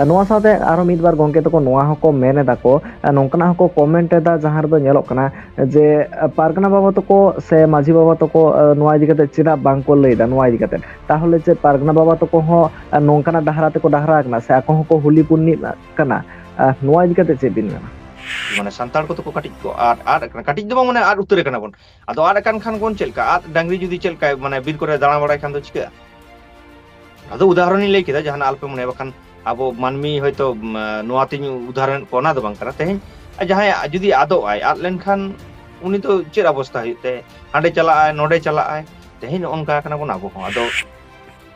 ᱱᱚᱣᱟ ᱥᱟᱶᱛᱮ ᱟᱨᱚ ᱢᱤᱫ ᱵᱟᱨ ᱜᱚᱝᱠᱮ ᱛᱟᱠᱚ ᱱᱚᱣᱟ ᱦᱚᱸᱠᱚ ᱢᱮᱱ ᱮᱫᱟ ᱠᱚ ᱱᱚᱝᱠᱟᱱᱟᱜ ᱦᱚᱸᱠᱚ ᱠᱚᱢᱮᱱᱴ ᱮᱫᱟ ᱡᱟᱦᱟᱸ ᱨᱮᱫᱚ ᱧᱮᱞᱚᱜ ᱠᱟᱱᱟ ᱡᱮ ᱯᱟᱨᱜᱟᱱᱟ ᱵᱟᱵᱟ ᱛᱟᱠᱚ ᱥᱮ ᱢᱟᱹᱡᱷᱤ ᱵᱟᱵᱟ ᱛᱟᱠᱚ ᱱᱚᱣᱟ ᱤᱫᱤ ᱠᱟᱛᱮ ᱪᱮᱫᱟᱜ ᱵᱟᱝᱠᱚ ᱞᱟᱹᱭᱫᱟ ᱱᱚᱣᱟ ᱤᱫᱤ ᱠᱟᱛᱮ ᱛᱟᱦᱚᱞᱮ ᱪᱮᱫ ᱯᱟᱨᱜᱟᱱᱟ ᱵᱟᱵᱟ ᱛᱟᱠᱚ ᱦᱚᱸ ᱱᱚᱝᱠᱟᱱᱟᱜ ᱰᱟᱦᱟᱨᱟ ᱛᱮᱠᱚ ᱰᱟᱦᱟᱨᱟ ᱟᱠᱟᱱᱟ ᱥᱮ ᱟᱠᱚ ᱦᱚᱸᱠᱚ ᱦᱩᱞᱤ ᱯᱩᱱᱱᱤ ᱠᱟᱱᱟ ᱱᱚᱣᱟ ᱤᱫᱤ ᱠᱟᱛᱮ ᱪᱮᱫ ᱵᱤᱱ ᱢᱮᱱᱟ ᱢᱟᱱᱮ ᱥᱟᱱᱛᱟᱲ ᱠᱚᱫᱚ ᱠᱚ ᱠᱟᱹᱴᱤᱡ ᱠᱚ ᱟᱫ ᱟᱫ ᱟᱠᱟᱱᱟ ᱠᱟᱹᱴᱤᱡ ᱫᱚ ᱵᱟᱝ ᱢᱟᱱᱮ ᱟᱫ ᱩᱛᱟᱹᱨ ᱟᱠᱟᱱᱟ ᱵᱚᱱ ᱟᱫᱚ ᱟᱫ ᱟᱠᱟᱱ ᱠᱷᱟᱱ ᱵᱚᱱ ᱪᱮᱫ ᱞᱮᱠᱟ ᱟᱫ ᱰᱟᱝᱨᱤ ᱡᱩᱫᱤ ᱪᱮᱫ ᱞᱮᱠᱟ ᱢᱟᱱᱮ ᱵᱤᱨ ᱠᱚᱨᱮ ᱫᱟᱬᱟ ᱵᱟᱲᱟᱭ ᱠᱷᱟᱱ ᱫᱚ ᱪᱤᱠᱟᱹᱜᱼᱟ ᱟᱫᱚ ᱩᱫᱟᱦᱚᱨᱚᱱᱤᱧ ᱞᱟᱹᱭ ᱠᱮᱫᱟ ᱡᱟᱦᱟᱱᱟᱜ ᱟᱞᱯᱮ ᱢᱚᱱᱮ ᱵᱟᱠᱷᱟᱱ ᱟᱵᱚ ᱢᱟᱹᱱᱢᱤ ᱦᱚᱭᱛᱳ ᱱᱚᱣᱟ ᱛᱤᱧ ᱩᱫᱟᱦᱚᱨᱚᱱ ᱠᱚ ᱚᱱᱟ ᱫᱚ ᱵᱟᱝ ᱠᱟᱱᱟ ᱛᱮᱦᱮᱧ ᱡᱟᱦᱟᱸᱭ ᱡᱩᱫᱤ ᱟᱫᱚᱜ ᱟᱭ ᱟᱫ ᱞᱮᱱᱠᱷᱟᱱ ᱩᱱᱤ ᱫᱚ ᱪᱮᱫ ᱚᱵᱚᱥᱛᱟ ᱦᱩᱭᱩᱜ ᱛᱟᱭ ᱦᱟᱸᱰᱮ ᱪᱟᱞᱟᱜ ᱟᱭ ᱱᱚᱰᱮ ᱪᱟᱞᱟᱜ ᱟᱭ ᱛᱮᱦᱮᱧ ᱱᱚᱜᱼᱚ ᱱᱚᱝᱠᱟ ᱠᱟᱱᱟ ᱵᱚᱱ ᱟᱵᱚ ᱦᱚᱸ ᱟᱫᱚ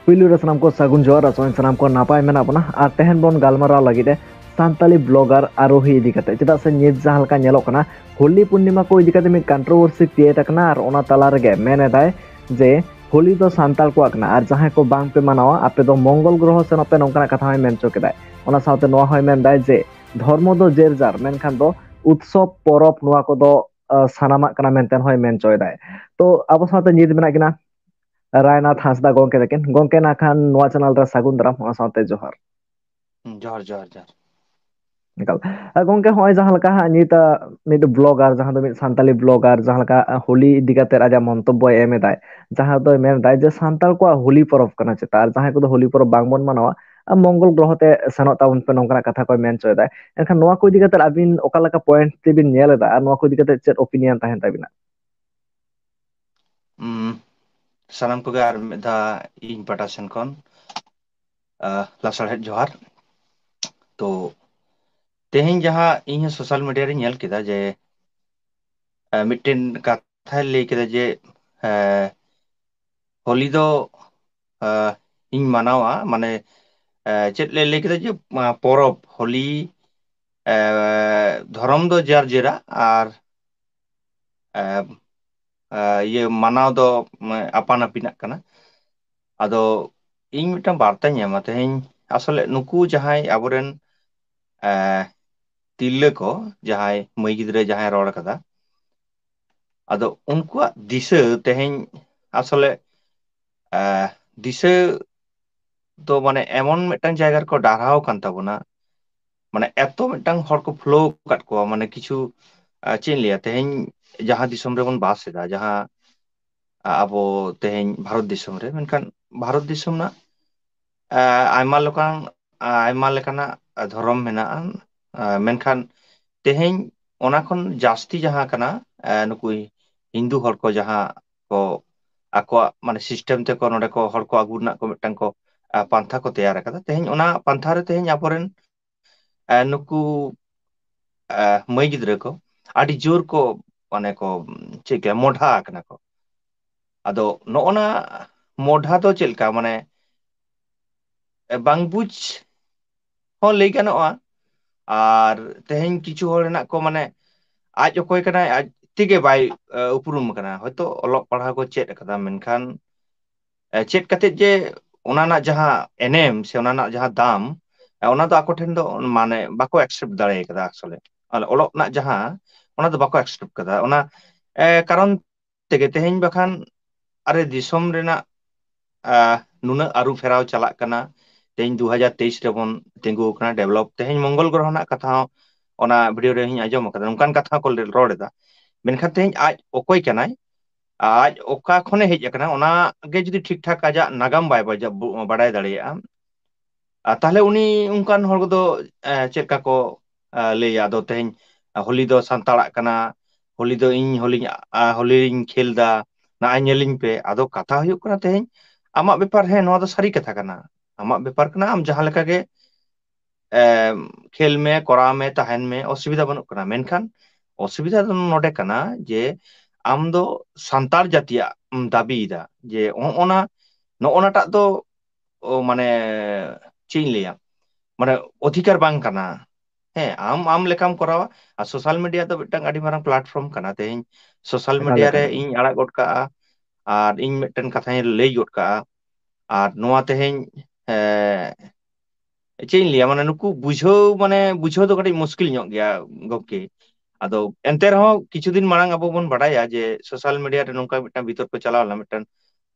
ᱯᱩᱭᱞᱩ ᱨᱮ ᱥᱟᱱᱟᱢ ᱠᱚ ᱥᱟᱹᱜᱩᱱ ᱡᱚᱦᱟᱨ ᱟᱥᱚᱜ ᱥᱟᱱᱟᱢ ᱠᱚ ᱱᱟᱯᱟᱭ ᱢᱮᱱᱟᱜ ᱵᱚᱱᱟ ᱟᱨ ᱛᱮᱦᱮᱧ ᱵᱚᱱ ᱜᱟᱞᱢᱟᱨᱟᱣ ᱞᱟᱹᱜᱤᱫ ᱮ ᱥᱟᱱᱛᱟᱞᱤ ᱵᱞᱚᱜᱟᱨ ᱟᱨᱳᱦᱤ ᱤᱫᱤ ᱠᱟᱛᱮ ᱪᱮᱫᱟᱜ ᱥᱮ ᱱᱤᱛ ᱡᱟᱦᱟᱸ ᱞᱮᱠᱟ ᱧᱮᱞᱚᱜ ᱠᱟᱱᱟ ᱦᱳᱞᱤ ᱯᱩᱨᱱᱤᱢᱟ ᱠᱚ ᱤᱫᱤ ᱠᱟᱛᱮ ᱢᱤᱫ ᱠᱚᱱᱴᱨᱳᱵᱷᱟᱨᱥᱤ ᱠᱨᱤᱭᱮᱴ ᱟᱠᱟᱱᱟ ᱟᱨ ᱚᱱᱟ ᱛᱟᱞᱟ ᱨᱮᱜᱮ ᱢᱮᱱ ᱮᱫᱟᱭ ᱡᱮ ᱦᱳᱞᱤ ᱫᱚ ᱥᱟᱱᱛᱟᱲ ᱠᱚᱣᱟᱜ ᱠᱟᱱᱟ ᱟᱨ ᱡᱟᱦᱟᱸᱭ ᱠᱚ ᱵᱟᱝ ᱯᱮ ᱢᱟᱱᱟᱣᱟ ᱟᱯᱮ ᱫᱚ ᱢᱚᱝᱜᱚᱞ ᱜᱨᱚᱦᱚ ᱥᱮᱱᱚᱜ ᱯᱮ ᱱᱚᱝᱠᱟᱱᱟᱜ ᱠᱟᱛᱷᱟ ᱦᱚᱸᱭ ᱢᱮᱱ ᱦᱚᱪᱚ ᱠᱮᱫᱟᱭ ᱚᱱᱟ ᱥᱟᱶᱛᱮ ᱱᱚᱣᱟ ᱦᱚᱸᱭ ᱢᱮᱱ ᱮᱫᱟᱭ ᱡᱮ ᱫᱷᱚᱨᱢᱚ ᱫᱚ ᱡᱮᱨ ᱡᱟᱨ ᱢᱮᱱᱠᱷᱟᱱ ᱫᱚ ᱩᱛᱥᱚᱵ ᱯᱚᱨᱚᱵ ᱱᱚᱣᱟ ᱠᱚᱫᱚ ᱥᱟᱱᱟᱢᱟᱜ ᱠᱟᱱᱟ ᱢᱮᱱᱛᱮ ᱦᱚᱸᱭ ᱢᱮᱱ ᱦᱚᱪᱚᱭᱮᱫᱟᱭ ᱛᱚ ᱟᱵᱚ ᱥᱟᱶᱛᱮ ᱱᱤᱛ ᱢᱮᱱᱟᱜ ᱠᱤᱱᱟ ᱨᱟᱭᱱᱟᱛᱷ ᱦᱟᱸᱥᱫᱟ ᱜᱚᱢᱠᱮ ᱛᱟᱠᱤᱱ ᱜᱚᱢᱠᱮ ᱱᱟᱜ ᱠᱷᱟᱱ ᱱᱚᱣᱟ ᱪᱮᱱᱮᱞ ᱨᱮ ᱥᱟᱹᱜᱩᱱ ᱫᱟᱨᱟᱢ ᱚᱱᱟ ᱥᱟᱶᱛᱮ ᱡᱚᱦᱟᱨ ᱦᱩᱸ ᱡᱚᱦᱟᱨ ᱡᱚᱦᱟᱨ ᱡᱚᱦᱟᱨ ᱮᱠᱟᱞ ᱜᱚᱝᱠᱮ ᱦᱚᱸᱜᱼᱚᱭ ᱡᱟᱦᱟᱸ ᱞᱮᱠᱟ ᱦᱟᱸᱜ ᱱᱤᱛᱟᱜ ᱢᱤᱫ ᱵᱞᱚᱜᱟᱨ ᱡᱟᱦᱟᱸ ᱫᱚ ᱢᱤᱫ ᱥᱟᱱᱛᱟᱞᱤ ᱵᱞᱚᱜᱟᱨ ᱡᱟᱦᱟᱸ ᱞᱮᱠᱟ ᱦᱳᱞᱤ ᱤᱫᱤ ᱠᱟᱛᱮᱜ ᱟᱡᱟᱜ ᱢᱚᱱᱛᱚᱵᱵᱚᱭ ᱮᱢ ᱮᱫᱟᱭ ᱡᱟᱦᱟᱸ ᱫᱚᱭ ᱢᱮᱱ ᱮᱫᱟᱭ ᱡᱮ ᱥᱟᱱᱛᱟᱲ ᱠᱚᱣᱟᱜ ᱦᱳᱞᱤ ᱯᱚᱨᱚᱵᱽ ᱠᱟᱱᱟ ᱪᱮᱛᱟ ᱟᱨ ᱡᱟᱦᱟᱸᱭ ᱠᱚᱫᱚ ᱦᱳᱞᱤ ᱯᱚᱨᱚᱵᱽ ᱵᱟᱝᱵᱚᱱ ᱢᱟᱱᱟᱣᱟ ᱢᱚᱝᱜᱚᱞ ᱜᱨᱚᱦᱚ ᱛᱮ ᱥᱮᱱᱚᱜ ᱛᱟᱵᱚᱱ ᱯᱮ ᱱᱚᱝᱠᱟᱱᱟᱜ ᱠᱟᱛᱷᱟ ᱠᱚᱭ ᱢᱮᱱ ᱦᱚᱪᱚᱭᱮᱫᱟᱭ ᱮᱱᱠᱷᱟᱱ ᱱᱚᱣᱟ ᱠᱚ ᱤᱫᱤ ᱠᱟᱛᱮᱫ ᱟᱹᱵᱤᱱ ᱚᱠᱟ ᱞᱮᱠᱟ ᱯᱚᱭᱮᱱᱴ ᱛᱮᱵᱤᱱ ᱧᱮᱞ ᱮᱫᱟ ᱟᱨ ᱱᱚᱣᱟ ᱠᱚ ᱤᱫᱤ ᱠᱟᱛᱮ ᱪᱮᱫ ᱳᱯᱤᱱᱤᱭᱚᱱ ᱛᱟᱦᱮᱱ ᱛᱟᱵᱤᱱᱟ ᱥᱟᱱᱟᱢ ᱠᱚᱜᱮ ᱟᱨ ᱢᱤᱫ ᱫᱷᱟᱣ ᱤᱧ ᱯᱟᱦᱴᱟ ᱥᱮᱱ ᱠᱷᱚᱱ ᱞᱟᱥᱟᱲᱦᱮᱫ ᱡᱚᱦᱟᱨ ᱛᱚ ᱛᱮᱦᱮᱧ ᱡᱟᱦᱟᱸ ᱤᱧ ᱦᱚᱸ ᱥᱳᱥᱟᱞ ᱢᱤᱰᱤᱭᱟ ᱨᱤᱧ ᱧᱮᱞ ᱠᱮᱫᱟ ᱡᱮ ᱢᱤᱫᱴᱮᱱ ᱠᱟᱛᱷᱟᱭ ᱞᱟᱹᱭ ᱠᱮᱫᱟ ᱡᱮ ᱦᱳᱞᱤ ᱫᱚ ᱤᱧ ᱢᱟᱱᱟᱣᱟ ᱢᱟᱱᱮ ᱪᱮᱫ ᱞᱮ ᱞᱟᱹᱭ ᱠᱮᱫᱟ ᱡᱮ ᱯᱚᱨᱚᱵᱽ ᱦᱳᱞᱤ ᱫᱷᱚᱨᱚᱢ ᱫᱚ ᱡᱮᱨ ᱡᱮᱨᱟ ᱟᱨ ᱮᱸ ᱤᱭᱟᱹ ᱢᱟᱱᱟᱣ ᱫᱚ ᱟᱯᱟᱱ ᱟᱹᱯᱤᱱᱟᱜ ᱠᱟᱱᱟ ᱟᱫᱚ ᱤᱧ ᱢᱤᱫᱴᱟᱝ ᱵᱟᱨᱛᱟᱧ ᱮᱢᱟ ᱛᱮᱦᱮᱧ ᱟᱥᱚᱞᱮ ᱱᱩᱠᱩ ᱡᱟᱦᱟᱸᱭ ᱟᱵᱚᱨᱮᱱ ᱮᱸ ᱛᱤᱨᱞᱟᱹ ᱠᱚ ᱡᱟᱦᱟᱸᱭ ᱢᱟᱹᱭ ᱜᱤᱫᱽᱨᱟᱹ ᱡᱟᱦᱟᱸᱭ ᱨᱚᱲ ᱠᱟᱫᱟ ᱟᱫᱚ ᱩᱱᱠᱩᱣᱟᱜ ᱫᱤᱥᱟᱹ ᱛᱮᱦᱮᱧ ᱟᱥᱚᱞᱮ ᱮᱸ ᱫᱤᱥᱟᱹ ᱫᱚ ᱢᱟᱱᱮ ᱮᱢᱚᱱ ᱢᱤᱫᱴᱟᱱ ᱡᱟᱭᱜᱟ ᱨᱮᱠᱚ ᱰᱟᱨᱦᱟᱣ ᱟᱠᱟᱱ ᱛᱟᱵᱚᱱᱟ ᱢᱟᱱᱮ ᱮᱛᱚ ᱢᱤᱫᱴᱟᱝ ᱦᱚᱲ ᱠᱚ ᱯᱷᱩᱞᱟᱹᱣ ᱟᱠᱟᱫ ᱠᱚᱣᱟ ᱢᱟᱱᱮ ᱠᱤᱪᱷᱩ ᱟᱨ ᱪᱮᱫ ᱤᱧ ᱞᱟᱹᱭᱟ ᱛᱮᱦᱮᱧ ᱡᱟᱦᱟᱸ ᱫᱤᱥᱚᱢ ᱨᱮᱵᱚᱱ ᱵᱟᱥ ᱮᱫᱟ ᱡᱟᱦᱟᱸ ᱟᱵᱚ ᱛᱮᱦᱮᱧ ᱵᱷᱟᱨᱚᱛ ᱫᱤᱥᱚᱢ ᱨᱮ ᱢᱮᱱᱠᱷᱟᱱ ᱵᱷᱟᱨᱚᱛ ᱫᱤᱥᱚᱢ ᱨᱮᱱᱟᱜ ᱟᱭᱢᱟ ᱞᱮᱠᱟᱱ ᱟᱭᱢᱟ ᱞᱮᱠᱟᱱᱟᱜ ᱫᱷᱚᱨᱚᱢ ᱢᱮᱱᱟᱜᱼᱟ ᱢᱮᱱᱠᱷᱟᱱ ᱛᱮᱦᱮᱧ ᱚᱱᱟ ᱠᱷᱚᱱ ᱡᱟᱹᱥᱛᱤ ᱡᱟᱦᱟᱸ ᱠᱟᱱᱟ ᱱᱩᱠᱩᱭ ᱦᱤᱱᱫᱩ ᱦᱚᱲ ᱠᱚ ᱡᱟᱦᱟᱸ ᱠᱚ ᱟᱠᱚᱣᱟᱜ ᱢᱟᱱᱮ ᱥᱤᱥᱴᱮᱢ ᱛᱮᱠᱚ ᱱᱚᱰᱮ ᱠᱚ ᱦᱚᱲ ᱠᱚ ᱟᱹᱜᱩ ᱨᱮᱱᱟᱜ ᱠᱚ ᱢᱤᱫᱴᱟᱝ ᱠᱚ ᱯᱟᱱᱛᱷᱟ ᱠᱚ ᱛᱮᱭᱟᱨ ᱟᱠᱟᱫᱟ ᱛᱮᱦᱮᱧ ᱚᱱᱟ ᱯᱟᱱᱛᱷᱟ ᱨᱮ ᱛᱮᱦᱮᱧ ᱟᱵᱚᱨᱮᱱ ᱮᱸ ᱱᱩᱠᱩ ᱮᱸ ᱢᱟᱹᱭ ᱜᱤᱫᱽᱨᱟᱹ ᱠᱚ ᱟᱹᱰᱤ ᱡᱳᱨ ᱠᱚ ᱢᱟᱱᱮ ᱠᱚ ᱪᱮᱫ ᱠᱚᱭᱟ ᱢᱚᱰᱷᱟ ᱟᱠᱟᱱᱟ ᱠᱚ ᱟᱫᱚ ᱱᱚᱜᱼᱚ ᱱᱟ ᱢᱚᱰᱷᱟ ᱫᱚ ᱪᱮᱫ ᱞᱮᱠᱟ ᱢᱟᱱᱮ ᱵᱟᱝ ᱵᱩᱡᱽ ᱦᱚᱸ ᱞᱟᱹᱭ ᱜᱟᱱᱚᱜᱼᱟ ᱟᱨ ᱛᱮᱦᱮᱧ ᱠᱤᱪᱷᱩ ᱦᱚᱲ ᱦᱮᱱᱟᱜ ᱠᱚ ᱢᱟᱱᱮ ᱟᱡ ᱚᱠᱚᱭ ᱠᱟᱱᱟᱭ ᱟᱡ ᱛᱮᱜᱮ ᱵᱟᱭ ᱩᱯᱨᱩᱢ ᱠᱟᱱᱟ ᱦᱚᱭᱛᱳ ᱚᱞᱚᱜ ᱯᱟᱲᱦᱟᱣ ᱠᱚ ᱪᱮᱫ ᱠᱟᱫᱟ ᱢᱮᱱᱠᱷᱟᱱ ᱪᱮᱫ ᱠᱟᱛᱮᱫ ᱡᱮ ᱚᱱᱟ ᱨᱮᱱᱟᱜ ᱡᱟᱦᱟᱸ ᱮᱱᱮᱢ ᱥᱮ ᱚᱱᱟ ᱨᱮᱱᱟᱜ ᱡᱟᱦᱟᱸ ᱫᱟᱢ ᱚᱱᱟ ᱫᱚ ᱟᱠᱚ ᱴᱷᱮᱱ ᱫᱚ ᱢᱟᱱᱮ ᱵᱟᱠᱚ ᱮᱠᱥᱮᱯᱴ ᱫᱟᱲᱮ ᱠᱟᱫᱟ ᱟᱥᱚᱞᱮ ᱚᱞᱚᱜ ᱨᱮᱱᱟᱜ ᱡᱟᱦᱟᱸ ᱚᱱᱟ ᱫᱚ ᱵᱟᱠᱚ ᱮᱠᱥᱮᱯᱴ ᱠᱟᱫᱟ ᱚᱱᱟ ᱮ ᱠᱟᱨᱚᱱ ᱛᱮᱜᱮ ᱛᱮᱦᱮᱧ ᱵᱟᱠᱷᱟᱱ ᱟᱨᱮ ᱫᱤᱥᱚᱢ ᱨᱮᱱᱟᱜ ᱱᱩᱱᱟᱹᱜ ᱟᱹᱨᱩ ᱯᱷᱮᱨᱟᱣ ᱪᱟᱞᱟᱜ ᱠᱟᱱᱟ ᱛᱮᱦᱤᱧ ᱫᱩ ᱦᱟᱡᱟᱨ ᱛᱮᱭᱤᱥ ᱨᱮᱵᱚᱱ ᱛᱤᱸᱜᱩ ᱟᱠᱟᱱᱟ ᱰᱮᱵᱷᱞᱚᱯ ᱛᱮᱦᱮᱧ ᱢᱚᱝᱜᱚᱞ ᱜᱨᱚᱦᱚ ᱨᱮᱱᱟᱜ ᱠᱟᱛᱷᱟ ᱦᱚᱸ ᱚᱱᱟ ᱵᱷᱤᱰᱭᱳ ᱨᱮ ᱤᱧ ᱟᱸᱡᱚᱢ ᱟᱠᱟᱫᱟ ᱚᱱᱠᱟᱱ ᱠᱟᱛᱷᱟ ᱦᱚᱸ ᱠᱚ ᱨᱚᱲ ᱮᱫᱟ ᱢᱮᱱᱠᱷᱟᱱ ᱛᱮᱦᱤᱧ ᱟᱡ ᱚᱠᱚᱭ ᱠᱟᱱᱟᱭ ᱟᱡ ᱚᱠᱟ ᱠᱷᱚᱱᱮ ᱦᱮᱡ ᱟᱠᱟᱱᱟ ᱚᱱᱟ ᱜᱮ ᱡᱩᱫᱤ ᱴᱷᱤᱠ ᱴᱷᱟᱠ ᱟᱡᱟᱜ ᱱᱟᱜᱟᱢ ᱵᱟᱭ ᱵᱟᱡ ᱵᱟᱰᱟᱭ ᱫᱟᱲᱮᱭᱟᱜᱼᱟ ᱟᱨ ᱛᱟᱦᱚᱞᱮ ᱩᱱᱤ ᱚᱱᱠᱟᱱ ᱦᱚᱲᱫᱚ ᱪᱮᱫᱠᱟ ᱠᱚ ᱞᱟᱹᱭᱟ ᱟᱫᱚ ᱛᱮᱦᱮᱧ ᱦᱳᱞᱤ ᱫᱚ ᱥᱟᱱᱛᱟᱲᱟᱜ ᱠᱟᱱᱟ ᱦᱳᱞᱤ ᱫᱚ ᱤᱧ ᱦᱚᱞᱤᱧ ᱦᱳᱞᱤᱧ ᱠᱷᱮᱞ ᱮᱫᱟ ᱱᱟᱜ ᱚᱭ ᱧᱮᱞᱤᱧ ᱯᱮ ᱟᱫᱚ ᱠᱟᱛᱷᱟ ᱦᱩᱭᱩᱜ ᱠᱟᱱᱟ ᱛᱮᱦᱮᱧ ᱟᱢᱟᱜ ᱵᱮᱯᱟᱨ ᱦᱮᱸ ᱱᱚᱣᱟ ᱫᱚ ᱥᱟᱹᱨᱤ ᱠᱟᱛᱷᱟ ᱠᱟᱱᱟ ᱟᱢᱟᱜ ᱵᱮᱯᱟᱨ ᱠᱟᱱᱟ ᱟᱢ ᱡᱟᱦᱟᱸ ᱞᱮᱠᱟ ᱜᱮ ᱮ ᱠᱷᱮᱞ ᱢᱮ ᱠᱚᱨᱟᱣ ᱢᱮ ᱛᱟᱦᱮᱱ ᱢᱮ ᱚᱥᱩᱵᱤᱫᱷᱟ ᱵᱟᱹᱱᱩᱜ ᱠᱟᱱᱟ ᱢᱮᱱᱠᱷᱟᱱ ᱚᱥᱩᱵᱤᱫᱷᱟ ᱫᱚ ᱱᱚᱰᱮ ᱠᱟᱱᱟ ᱡᱮ ᱟᱢ ᱫᱚ ᱥᱟᱱᱛᱟᱲ ᱡᱟᱹᱛᱤᱭᱟᱜ ᱮᱢ ᱫᱟᱹᱵᱤᱭᱮᱫᱟ ᱡᱮ ᱱᱚᱜᱼᱚ ᱱᱟ ᱱᱚᱜᱼᱚ ᱱᱟᱴᱟᱜ ᱫᱚ ᱚ ᱢᱟᱱᱮ ᱪᱮᱫ ᱤᱧ ᱞᱟᱹᱭᱟ ᱢᱟᱱᱮ ᱚᱫᱷᱤᱠᱟᱨ ᱵᱟᱝ ᱠᱟᱱᱟ ᱦᱮᱸ ᱟᱢ ᱟᱢ ᱞᱮᱠᱟᱢ ᱠᱚᱨᱟᱣᱟ ᱟᱨ ᱥᱳᱥᱟᱞ ᱢᱤᱰᱤᱭᱟ ᱫᱚ ᱢᱤᱫᱴᱟᱝ ᱟᱹᱰᱤ ᱢᱟᱨᱟᱝ ᱯᱞᱟᱴᱯᱷᱨᱚᱢ ᱠᱟᱱᱟ ᱛᱮᱦᱮᱧ ᱥᱳᱥᱟᱞ ᱮᱠᱟᱞ ᱢᱤᱰᱤᱭᱟ ᱨᱮ ᱮᱠᱟᱞ ᱮᱠᱟᱞ ᱤᱧ ᱟᱲᱟᱜ ᱜᱚᱫ ᱠᱟᱜᱼᱟ ᱟᱨ ᱤᱧ ᱢᱤᱫᱴᱮᱱ ᱠᱟᱛᱷᱟᱧ ᱞᱟᱹᱭ ᱜᱚᱫ ᱠᱟᱜᱼᱟ ᱟᱨ ᱱᱚᱣᱟ ᱛᱮᱦᱮᱧ ᱮ ᱪᱮᱫ ᱤᱧ ᱞᱟᱹᱭᱟ ᱢᱟᱱᱮ ᱱᱩᱠᱩ ᱵᱩᱡᱷᱟᱹᱣ ᱢᱟᱱᱮ ᱵᱩᱡᱷᱟᱹᱣ ᱫᱚ ᱠᱟᱹᱴᱤᱡ ᱢᱩᱥᱠᱤᱞ ᱧᱚᱜ ᱜᱮᱭᱟ ᱜᱚᱢᱠᱮ ᱟᱫᱚ ᱮᱱᱛᱮ ᱨᱮᱦᱚᱸ ᱠᱤᱪᱷᱩ ᱫᱤᱱ ᱢᱟᱲᱟᱝ ᱟᱵᱚ ᱵᱚᱱ ᱵᱟᱰᱟᱭᱟ ᱡᱮ ᱥᱳᱥᱟᱞ ᱢᱤᱰᱤᱭᱟ ᱨᱮ ᱱᱚᱝᱠᱟ ᱢᱤᱫᱴᱟᱝ ᱵᱤᱛᱚᱨᱠᱚ ᱪᱟᱞᱟᱣ ᱞᱮᱱᱟ ᱢᱤᱫᱴᱟᱝ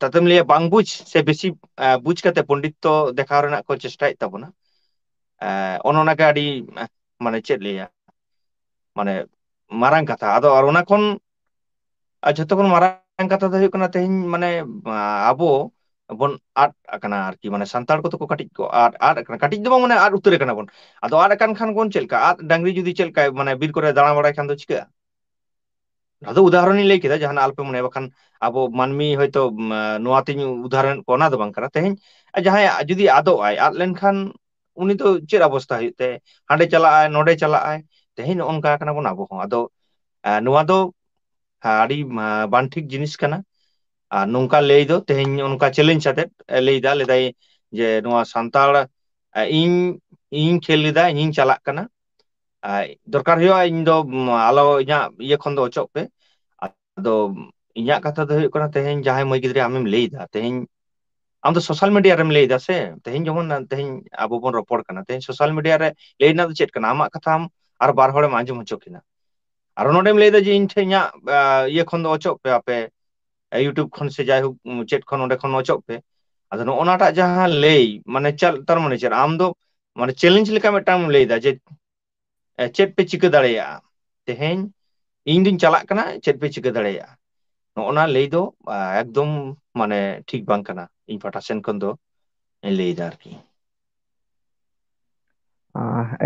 ᱛᱟᱛᱮᱢ ᱞᱟᱹᱭᱟ ᱵᱟᱝ ᱵᱩᱡ ᱥᱮ ᱵᱮᱥᱤ ᱵᱩᱡ ᱠᱟᱛᱮ ᱯᱚᱱᱰᱤᱛᱚ ᱫᱮᱠᱷᱟᱣ ᱨᱮᱱᱟᱜ ᱠᱚ ᱪᱮᱥᱴᱟᱭᱮᱫ ᱛᱟᱵᱚᱱᱟ ᱚᱱᱮ ᱚᱱᱟᱜᱮ ᱟᱹᱰᱤ ᱢᱟᱱᱮ ᱪᱮᱫ ᱞᱟᱹᱭᱟ ᱢᱟᱱᱮ ᱢᱟᱨᱟᱝ ᱠᱟᱛᱷᱟ ᱟᱫᱚ ᱚᱱᱟ ᱠᱷᱚᱱ ᱟᱨ ᱡᱷᱚᱛᱚ ᱠᱷᱚᱱ ᱢᱟᱨᱟᱝ ᱠᱟᱛᱷᱟ ᱫᱚ ᱦᱩᱭᱩᱜ ᱠᱟᱱᱟ ᱛᱮᱦᱮᱧ ᱢᱟᱱᱮ ᱟᱵᱚ ᱵᱚᱱ ᱟᱫ ᱟᱠᱟᱱᱟ ᱟᱨᱠᱤ ᱢᱟᱱᱮ ᱥᱟᱱᱛᱟᱲ ᱠᱚᱫᱚ ᱠᱚ ᱠᱟᱹᱴᱤᱡ ᱠᱚ ᱟᱫ ᱟᱫ ᱟᱠᱟᱱᱟ ᱠᱟᱹᱴᱤᱡ ᱫᱚ ᱵᱟᱝ ᱢᱟᱱᱮ ᱟᱫ ᱩᱛᱟᱹᱨ ᱠᱟᱱᱟ ᱵᱚᱱ ᱟᱫᱚ ᱟᱫ ᱟᱠᱟᱱ ᱠᱷᱟᱱ ᱵᱚᱱ ᱪᱮᱫ ᱞᱮᱠᱟ ᱟᱫ ᱰᱟᱝᱨᱤ ᱡᱩᱫᱤ ᱪᱮᱫ ᱞᱮᱠᱟᱭ ᱢᱟᱱᱮ ᱵᱤᱨ ᱠᱚᱨᱮ ᱫᱟᱬᱟ ᱵᱟᱲᱟᱭ ᱠᱷᱟᱱ ᱫᱚ ᱪᱤᱠᱟᱹᱜᱼᱟ ᱟᱫᱚ ᱩᱫᱟᱦᱚᱨᱚᱱᱤᱧ ᱞᱟᱹᱭ ᱠᱮᱫᱟ ᱡᱟᱦᱟᱱᱟᱜ ᱟᱞᱚᱯᱮ ᱢᱚᱱᱮᱭᱟ ᱵᱟᱠᱷᱟᱱ ᱟᱵᱚ ᱢᱟᱹᱱᱢᱤ ᱦᱚᱭᱛᱳ ᱱᱚᱣᱟᱛᱤᱧ ᱩᱫᱟᱦᱚᱨᱚᱱ ᱠᱚᱣᱟ ᱚᱱᱟ ᱫᱚ ᱵᱟᱝ ᱠᱟᱱᱟ ᱛᱮᱦᱮᱧ ᱡᱟᱦᱟᱸᱭᱟᱜ ᱡᱩᱫᱤ ᱟᱫᱚᱜᱼᱟᱭ ᱟᱫ ᱞᱮᱱᱠᱷᱟᱱ ᱩᱱᱤ ᱫᱚ ᱪᱮᱫ ᱚᱵᱚᱥᱛᱟ ᱦᱩᱭᱩᱜ ᱛᱟᱭᱟ ᱦᱟᱸᱰᱮ ᱪᱟᱞᱟᱜᱼ ᱟᱭ ᱱᱚᱰᱮ ᱪᱟᱞᱟᱜᱼ ᱟᱭ ᱛᱮᱦᱮᱧ ᱱᱚᱜᱼᱚ ᱱᱚᱝᱠᱟ ᱠᱟᱱᱟ ᱵᱚᱱ ᱟᱵᱚ ᱦᱚᱸ ᱟᱫᱚ ᱱᱚᱣᱟ ᱫᱚ ᱦᱮᱸ ᱟᱹᱰᱤ ᱵᱟᱝ ᱴᱷᱤᱠ ᱡᱤᱱᱤᱥ ᱠᱟᱱᱟ ᱟᱨ ᱱᱚᱝᱠᱟ ᱞᱟᱹᱭ ᱫᱚ ᱛᱮᱦᱮᱧ ᱚᱱᱠᱟ ᱪᱮᱞᱮᱧᱡᱽ ᱟᱛᱮᱫ ᱞᱟᱹᱭ ᱫᱟ ᱞᱟᱹᱭᱫᱟᱭ ᱡᱮ ᱱᱚᱣᱟ ᱥᱟᱱᱛᱟᱲ ᱤᱧ ᱤᱧ ᱠᱷᱮᱞ ᱞᱮᱫᱟ ᱤᱧᱤᱧ ᱪᱟᱞᱟᱜ ᱠᱟᱱᱟ ᱟᱡ ᱫᱚᱨᱠᱟᱨ ᱦᱩᱭᱩᱜᱼᱟ ᱤᱧ ᱫᱚ ᱟᱞᱚ ᱤᱧᱟᱹᱜ ᱤᱭᱟᱹ ᱠᱷᱚᱱ ᱫᱚ ᱚᱪᱚᱜ ᱯᱮ ᱟᱫᱚ ᱤᱧᱟᱹᱜ ᱠᱟᱛᱷᱟ ᱫᱚ ᱦᱩᱭᱩᱜ ᱠᱟᱱᱟ ᱛᱮᱦᱮᱧ ᱡᱟᱦᱟᱸᱭ ᱢᱟᱹᱭ ᱜᱤᱫᱽᱨᱟᱹ ᱟᱢᱮᱢ ᱞᱟᱹᱭ ᱮᱫᱟ ᱛᱮᱦᱮᱧ ᱟᱢ ᱫᱚ ᱥᱳᱥᱟᱞ ᱢᱤᱰᱤᱭᱟ ᱨᱮᱢ ᱞᱟᱹᱭ ᱮᱫᱟ ᱥᱮ ᱛᱮᱦᱮᱧ ᱡᱮᱢᱚᱱ ᱛᱮᱦᱮᱧ ᱟᱵᱚ ᱵᱚᱱ ᱨᱚᱯᱚᱲ ᱠᱟᱱᱟ ᱛᱮᱦᱮᱧ ᱥᱳᱥᱟᱞ ᱢᱤᱰᱤᱭᱟ ᱨᱮ ᱞᱟᱹᱭ ᱨᱮᱱᱟᱜ ᱫᱚ ᱪᱮᱫ ᱠᱟᱱᱟ ᱟᱢᱟᱜ ᱠᱟᱛᱷᱟ ᱟᱢ ᱟᱨ ᱵᱟᱨ ᱦᱚᱲᱮᱢ ᱟᱸᱡᱚᱢ ᱦᱚᱪᱚ ᱠᱤᱱᱟ ᱟᱨᱚ ᱱᱚᱸᱰᱮᱢ ᱞᱟᱹᱭᱫᱟ ᱡᱮ ᱤᱧ ᱴᱷᱮᱱ ᱤᱧᱟᱹᱜ ᱤᱭᱟᱹ ᱠᱷᱚᱱ ᱫᱚ ᱚᱪᱚᱜ ᱯᱮ ᱟᱯᱮ ᱤᱭᱩᱴᱩᱵᱽ ᱠᱷᱚᱱ ᱥᱮ ᱡᱟᱭᱦᱳᱠ ᱪᱮᱫ ᱠᱷᱚᱱ ᱚᱸᱰᱮ ᱠᱷᱚᱱ ᱚᱪᱚᱜ ᱯᱮ ᱟᱫᱚ ᱱᱚᱜᱼᱚ ᱱᱟᱴᱟᱜ ᱡᱟᱦᱟᱸ ᱞᱟᱹᱭ ᱢᱟᱱᱮ ᱪᱮᱫ ᱛᱟᱨ ᱢᱟᱱᱮ ᱪᱮᱫ ᱟᱢ ᱫᱚ ᱢᱟᱱᱮ ᱪᱮᱞᱮᱧᱡᱽ ᱞᱮᱠᱟ ᱢᱤᱫᱴᱟᱝ ᱮᱢ ᱞᱟᱹᱭᱫᱟ ᱡᱮ ᱪᱮᱫ ᱯᱮ ᱪᱤᱠᱟᱹ ᱫᱟᱲᱮᱭᱟᱜᱼᱟ ᱛᱮᱦᱮᱧ ᱤᱧ ᱫᱩᱧ ᱪᱟᱞᱟᱜ ᱠᱟᱱᱟ ᱪᱮᱫ ᱯᱮ ᱪᱤᱠᱟᱹ ᱫᱟᱲᱮᱭᱟᱜᱼᱟ ᱱᱚᱜᱼᱚ ᱱᱟ ᱞᱟᱹᱭ ᱫᱚ ᱮᱠᱫᱚᱢ ᱢᱟᱱᱮ ᱴᱷᱤᱠ ᱵᱟᱝ ᱠᱟᱱᱟ ᱤᱧ ᱯᱟᱦᱴᱟ ᱥᱮᱱ ᱠᱷᱚᱱ ᱫᱚ ᱞᱟᱹᱭᱫᱟ ᱟᱨᱠᱤ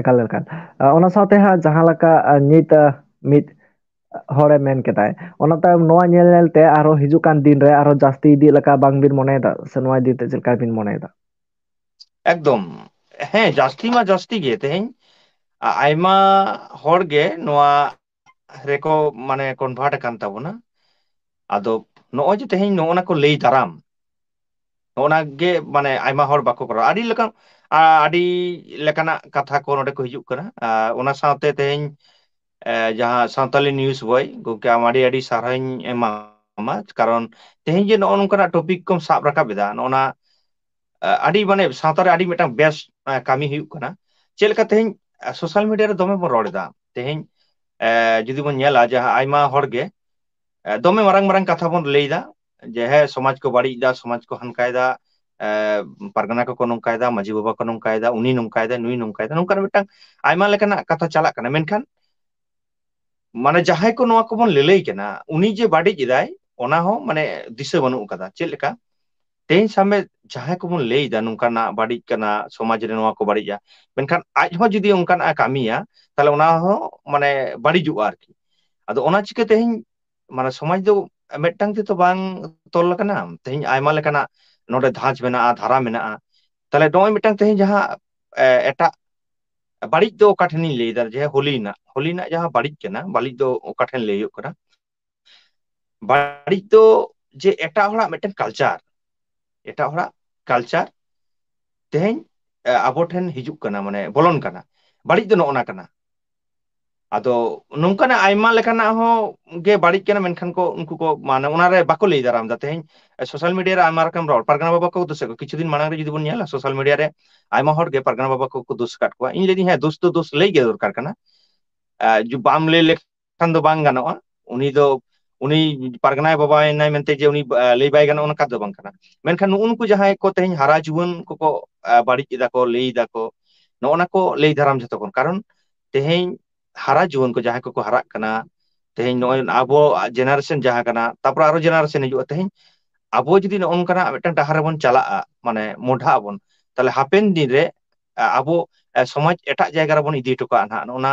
ᱮᱠᱟᱞ ᱮᱠᱟᱞ ᱚᱱᱟ ᱥᱟᱶᱛᱮ ᱦᱟᱸᱜ ᱡᱟᱦᱟᱸ ᱞᱮᱠᱟ ᱱᱤᱛ ᱢᱤᱫ ᱦᱚᱲᱮ ᱢᱮᱱ ᱠᱮᱫᱟᱭ ᱚᱱᱟ ᱛᱟᱭᱚᱢ ᱱᱚᱣᱟ ᱧᱮᱞ ᱧᱮᱞᱛᱮ ᱟᱨᱦᱚᱸ ᱦᱤᱡᱩᱜ ᱠᱟᱱ ᱫᱤᱱᱨᱮ ᱟᱨᱦᱚᱸ ᱡᱟᱹᱥᱛᱤ ᱤᱫᱤᱜ ᱞᱮᱠᱟ ᱵᱟᱝᱵᱤᱱ ᱢᱚᱱᱮᱭᱮᱫᱟ ᱥᱮ ᱱᱚᱣᱟ ᱤᱫᱤ ᱛᱮ ᱪᱮᱫ ᱞᱮᱠᱟ ᱵᱤᱱ ᱢᱚᱱᱮᱭᱮᱫᱟ ᱮᱠᱫᱚᱢ ᱦᱮᱸ ᱡᱟᱹᱥᱛᱤ ᱢᱟ ᱡᱟᱹᱥᱛᱤ ᱜᱮ ᱛᱮᱦᱮᱧ ᱟᱭᱢᱟ ᱦᱚᱲ ᱜᱮ ᱱᱚᱣᱟ ᱨᱮᱠᱚ ᱢᱟᱱᱮ ᱠᱚᱱᱵᱷᱟᱨᱴ ᱟᱠᱟᱱ ᱛᱟᱵᱚᱱᱟ ᱟᱫᱚ ᱱᱚᱜᱼᱚᱭ ᱡᱮ ᱛᱮᱦᱮᱧ ᱱᱚᱜᱼᱚ ᱱᱟ ᱠᱚ ᱞᱟᱹᱭ ᱫᱟᱨᱟᱢ ᱱᱚᱜᱼᱚ ᱱᱟ ᱜᱮ ᱢᱟᱱᱮ ᱟᱭᱢᱟ ᱦᱚᱲ ᱵᱟᱠᱚ ᱠᱚᱨᱟᱣᱟ ᱟᱹᱰᱤ ᱞᱮᱠᱟᱱ ᱟᱹᱰᱤ ᱞᱮᱠᱟᱱᱟᱜ ᱠᱟᱛᱷᱟ ᱠᱚ ᱱᱚᱸᱰᱮ ᱠᱚ ᱦᱤᱡᱩᱜ ᱠᱟᱱᱟ ᱟᱨ ᱚᱱᱟ ᱥᱟᱶᱛᱮ ᱛᱮᱦᱮᱧ ᱡᱟᱦᱟᱸ ᱥᱟᱱᱛᱟᱞᱤ ᱱᱤᱭᱩᱡ ᱵᱳᱭ ᱜᱚᱢᱠᱮ ᱟᱢ ᱟᱹᱰᱤ ᱟᱹᱰᱤ ᱥᱟᱨᱦᱟᱣ ᱤᱧ ᱮᱢᱟ ᱟᱢᱟ ᱠᱟᱨᱚᱱ ᱛᱮᱦᱮᱧ ᱡᱮ ᱱᱚᱜᱼᱚ ᱱᱚᱝᱠᱟᱱᱟᱜ ᱴᱚᱯᱤᱠ ᱠᱚᱢ ᱥᱟᱵ ᱨᱟᱠᱟᱵ ᱮᱫᱟ ᱱᱚᱜᱼᱚ ᱱᱟ ᱟᱹᱰᱤ ᱢᱟᱱᱮ ᱥᱟᱶᱛᱟ ᱨᱮ ᱟᱹᱰᱤ ᱢᱤᱫᱴᱟᱝ ᱵᱮᱥ ᱠᱟᱹᱢᱤ ᱦᱩᱭᱩᱜ ᱠᱟᱱᱟ ᱪᱮᱫ ᱞᱮᱠᱟ ᱛᱮᱦᱮᱧ ᱥᱳᱥᱟᱞ ᱢᱤᱰᱤᱭᱟ ᱨᱮ ᱫᱚᱢᱮ ᱵᱚᱱ ᱨᱚᱲ ᱮᱫᱟ ᱛᱮᱦᱮᱧ ᱮ ᱡᱩᱫᱤ ᱵᱚᱱ ᱧᱮᱞᱟ ᱡᱟᱦᱟᱸ ᱟᱭᱢᱟ ᱦᱚᱲ ᱜᱮ ᱫᱚᱢᱮ ᱢᱟᱨᱟᱝ ᱢᱟᱨᱟᱝ ᱠᱟᱛᱷᱟ ᱵᱚᱱ ᱞᱟᱹᱭ ᱮᱫᱟ ᱡᱮ ᱦᱮᱸ ᱥᱚᱢᱟᱡᱽ ᱠᱚ ᱵᱟᱹᱲᱤᱡ ᱮᱫᱟ ᱥᱚᱢᱟᱡᱽ ᱠᱚ ᱦᱟᱱᱠᱟᱭ ᱮᱫᱟ ᱮ ᱯᱟᱨᱜᱟᱱᱟ ᱠᱚᱠᱚ ᱱᱚᱝᱠᱟᱭ ᱮᱫᱟ ᱢᱟᱺᱡᱷᱤ ᱵᱟᱵᱟ ᱠᱚ ᱱᱚᱝᱠᱟᱭ ᱮᱫᱟ ᱩᱱᱤ ᱱᱚᱝᱠᱟᱭ ᱮᱫᱟ ᱱᱩᱭ ᱱᱚᱝᱠᱟᱭ ᱮᱫᱟ ᱱᱚᱝᱠᱟᱱᱟᱜ ᱢᱤᱫᱴᱟᱝ ᱟᱭᱢᱟ ᱞᱮᱠᱟᱱᱟᱜ ᱠᱟᱛᱷᱟ ᱪᱟᱞᱟᱜ ᱠᱟᱱᱟ ᱢᱮᱱᱠᱷᱟᱱ ᱢᱟᱱᱮ ᱡᱟᱦᱟᱸᱭ ᱠᱚ ᱱᱚᱣᱟ ᱠᱚᱵᱚᱱ ᱞᱟᱹᱞᱟᱹᱭ ᱠᱟᱱᱟ ᱩᱱᱤ ᱡᱮ ᱵᱟᱹᱲᱤᱡ ᱮᱫᱟᱭ ᱚᱱᱟ ᱦᱚᱸ ᱢᱟᱱᱮ ᱫᱤᱥᱟᱹ ᱵᱟᱹᱱᱩᱜ ᱟᱠᱟᱫᱟ ᱪᱮᱫ ᱞᱮᱠᱟ ᱛᱮᱦᱮᱧ ᱥᱟᱵ ᱢᱮ ᱡᱟᱦᱟᱸᱭ ᱠᱚᱵᱚᱱ ᱞᱟᱹᱭ ᱮᱫᱟ ᱱᱚᱝᱠᱟᱱᱟᱜ ᱵᱟᱹᱲᱤᱡ ᱠᱟᱱᱟ ᱥᱚᱢᱟᱡᱽ ᱨᱮ ᱱᱚᱣᱟ ᱠᱚ ᱵᱟᱹᱲᱤᱡᱼᱟ ᱢᱮᱱᱠᱷᱟᱱ ᱟᱡ ᱦᱚᱸ ᱡᱩᱫᱤ ᱚᱱᱠᱟᱱᱟᱜᱼ ᱮ ᱠᱟᱹᱢᱤᱭᱟ ᱛᱟᱦᱚᱞᱮ ᱚᱱᱟ ᱦᱚᱸ ᱢᱟᱱᱮ ᱵᱟᱹᱲᱤᱡᱚᱜᱼᱟ ᱟᱨᱠᱤ ᱟᱫᱚ ᱚᱱᱟ ᱪᱤᱠᱟᱹ ᱛᱮᱦᱮᱧ ᱢᱟᱱᱮ ᱥᱚᱢᱟᱡᱽ ᱫᱚ ᱢᱤᱫᱴᱟᱝ ᱛᱮᱛᱚ ᱵᱟᱝ ᱛᱚᱞ ᱟᱠᱟᱱᱟ ᱛᱮᱦᱤᱧ ᱟᱭᱢᱟ ᱞᱮᱠᱟᱱᱟᱜ ᱱᱚᱰᱮ ᱫᱷᱟᱸᱪ ᱢᱮᱱᱟᱜᱼᱟ ᱫᱷᱟᱨᱟ ᱢᱮᱱᱟᱜᱼᱟ ᱛᱟᱦᱚᱞᱮ ᱱᱚᱜᱼᱚᱭ ᱢᱤᱫᱴᱟᱝ ᱛᱮᱦᱤᱧ ᱡᱟᱦᱟᱸ ᱮᱴᱟᱜ ᱵᱟᱹᱲᱤᱡ ᱫᱚ ᱚᱠᱟ ᱴᱷᱮᱱᱤᱧ ᱞᱟᱹᱭᱫᱟ ᱡᱮ ᱦᱳᱞᱤ ᱨᱮᱱᱟᱜ ᱦᱳᱞᱤ ᱨᱮᱱᱟᱜ ᱡᱟᱦᱟᱸ ᱵᱟᱹᱲᱤᱡ ᱠᱟᱱᱟ ᱵᱟᱹᱲᱤᱡ ᱫᱚ ᱚᱠᱟ ᱴᱷᱮᱱ ᱞᱟᱹᱭ ᱦᱩᱭᱩᱜ ᱠᱟᱱᱟ ᱵᱟᱹᱲᱤᱡ ᱫᱚ ᱡᱮ ᱮᱴᱟᱜ ᱦᱚᱲᱟᱜ ᱢᱤᱫᱴᱮᱱ ᱠᱟᱞᱪᱟᱨ ᱮᱴᱟᱜ ᱦᱚᱲᱟᱜ ᱠᱟᱞᱪᱟᱨ ᱛᱮᱦᱮᱧ ᱟᱵᱚ ᱴᱷᱮᱱ ᱦᱤᱡᱩᱜ ᱠᱟᱱᱟ ᱢᱟᱱᱮ ᱵᱚᱞᱚᱱ ᱠᱟᱱᱟ ᱵᱟᱹᱲᱤᱡ ᱫᱚ ᱱᱚᱜᱼᱚ ᱱᱟ ᱠᱟᱱᱟ ᱟᱫᱚ ᱱᱚᱝᱠᱟᱱᱟᱜ ᱟᱭᱢᱟ ᱞᱮᱠᱟᱱᱟᱜ ᱦᱚᱸ ᱜᱮ ᱵᱟᱹᱲᱤᱡ ᱠᱟᱱᱟ ᱢᱮᱱᱠᱷᱟᱱ ᱠᱚ ᱩᱱᱠᱩ ᱠᱚ ᱢᱟᱱᱮ ᱚᱱᱟᱨᱮ ᱵᱟᱠᱚ ᱞᱟᱹᱭ ᱫᱟᱨᱟᱢ ᱫᱟ ᱛᱮᱦᱮᱧ ᱥᱳᱥᱟᱞ ᱢᱤᱰᱤᱭᱟ ᱨᱮ ᱟᱭᱢᱟ ᱨᱚᱠᱚᱢ ᱨᱚᱲ ᱯᱟᱨᱜᱟᱱᱟ ᱵᱟᱵᱟ ᱠᱚ ᱫᱥᱮᱫ ᱠᱚ ᱠᱤᱪᱷᱩ ᱫᱤᱱ ᱢᱟᱲᱟᱝ ᱨᱮ ᱡᱩᱫᱤ ᱵᱚᱱ ᱧᱮᱞᱟ ᱥᱳᱥᱟᱞ ᱢᱤᱰᱤᱭᱟ ᱨᱮ ᱟᱭᱢᱟ ᱦᱚᱲ ᱜᱮ ᱯᱟᱨᱜᱟᱱᱟ ᱵᱟᱵᱟ ᱠᱚᱠᱚ ᱫᱳᱥ ᱟᱠᱟᱫ ᱠᱚᱣᱟ ᱤᱧ ᱞᱟᱹᱭ ᱫᱟᱹᱧ ᱦᱮᱸ ᱫᱳᱥ ᱫᱚ ᱫᱳᱥ ᱞᱟᱹᱭ ᱜᱮ ᱫᱚᱨᱠᱟᱨ ᱠᱟᱱᱟ ᱵᱟᱢ ᱞᱟᱹᱭ ᱞᱮᱠᱷᱟᱱ ᱠᱷᱟᱱ ᱫᱚ ᱵᱟᱝ ᱜᱟᱱᱚᱜᱼᱟ ᱩᱱᱤ ᱫᱚ ᱩᱱᱤ ᱯᱟᱨᱜᱟᱱᱟᱭ ᱵᱟᱵᱟᱭᱮᱱᱟᱭ ᱢᱮᱱᱛᱮ ᱡᱮ ᱩᱱᱤ ᱞᱟᱹᱭ ᱵᱟᱭ ᱜᱟᱱᱚᱜᱼᱟ ᱚᱱᱠᱟ ᱫᱚ ᱵᱟᱝ ᱠᱟᱱᱟ ᱢᱮᱱᱠᱷᱟᱱ ᱱᱩᱜᱼᱩ ᱱᱩᱠᱩ ᱡᱟᱦᱟᱸᱭ ᱠᱚ ᱛᱮᱦᱮᱧ ᱦᱟᱨᱟ ᱡᱩᱣᱟᱹᱱ ᱠᱚᱠᱚ ᱵᱟᱹᱲᱤᱡ ᱮᱫᱟ ᱠᱚ ᱞᱟᱹᱭ ᱮᱫᱟ ᱠᱚ ᱱᱚᱜᱼᱚ ᱱᱟ ᱠᱚ ᱞᱟᱹᱭ ᱫᱟᱨᱟᱢ ᱡᱷᱚᱛᱚ ᱠᱷᱚᱱ ᱠᱟᱨᱚᱱ ᱛᱮᱦᱮᱧ ᱦᱟᱨᱟ ᱡᱩᱣᱟᱹᱱ ᱠᱚ ᱡᱟᱦᱟᱸᱭ ᱠᱚᱠᱚ ᱦᱟᱨᱟᱜ ᱠᱟᱱᱟ ᱛᱮᱦᱮᱧ ᱱᱚᱜᱼᱚᱭ ᱟᱵᱚ ᱡᱮᱱᱟᱨᱮᱥᱚᱱ ᱡᱟᱦᱟᱸ ᱠᱟᱱᱟ ᱛᱟᱨᱯᱚᱨᱮ ᱟᱨᱚ ᱡᱮᱱᱟᱨᱮᱥᱚᱱ ᱦᱤᱡᱩᱜᱼᱟ ᱛᱮᱦᱮᱧ ᱟᱵᱚ ᱡᱩᱫᱤ ᱱᱚᱜᱼᱚ ᱱᱚᱝᱠᱟᱱᱟᱜ ᱢᱤᱫᱴᱟᱝ ᱰᱟᱦᱟᱨ ᱨᱮᱵᱚᱱ ᱪᱟᱞᱟᱜᱼᱟ ᱢᱟᱱᱮ ᱢᱚᱰᱷᱟᱜ ᱟᱵᱚᱱ ᱛᱟᱦᱚᱞᱮ ᱦᱟᱯᱮᱱ ᱫᱤᱱᱨᱮ ᱟᱵᱚ ᱥᱚᱢᱟᱡᱽ ᱮᱴᱟᱜ ᱡᱟᱭᱜᱟ ᱨᱮᱵᱚᱱ ᱤᱫᱤ ᱦᱚᱴᱚ ᱠᱟᱜᱼᱟ ᱱᱟᱜ ᱱᱚᱜᱼᱚ ᱱᱟ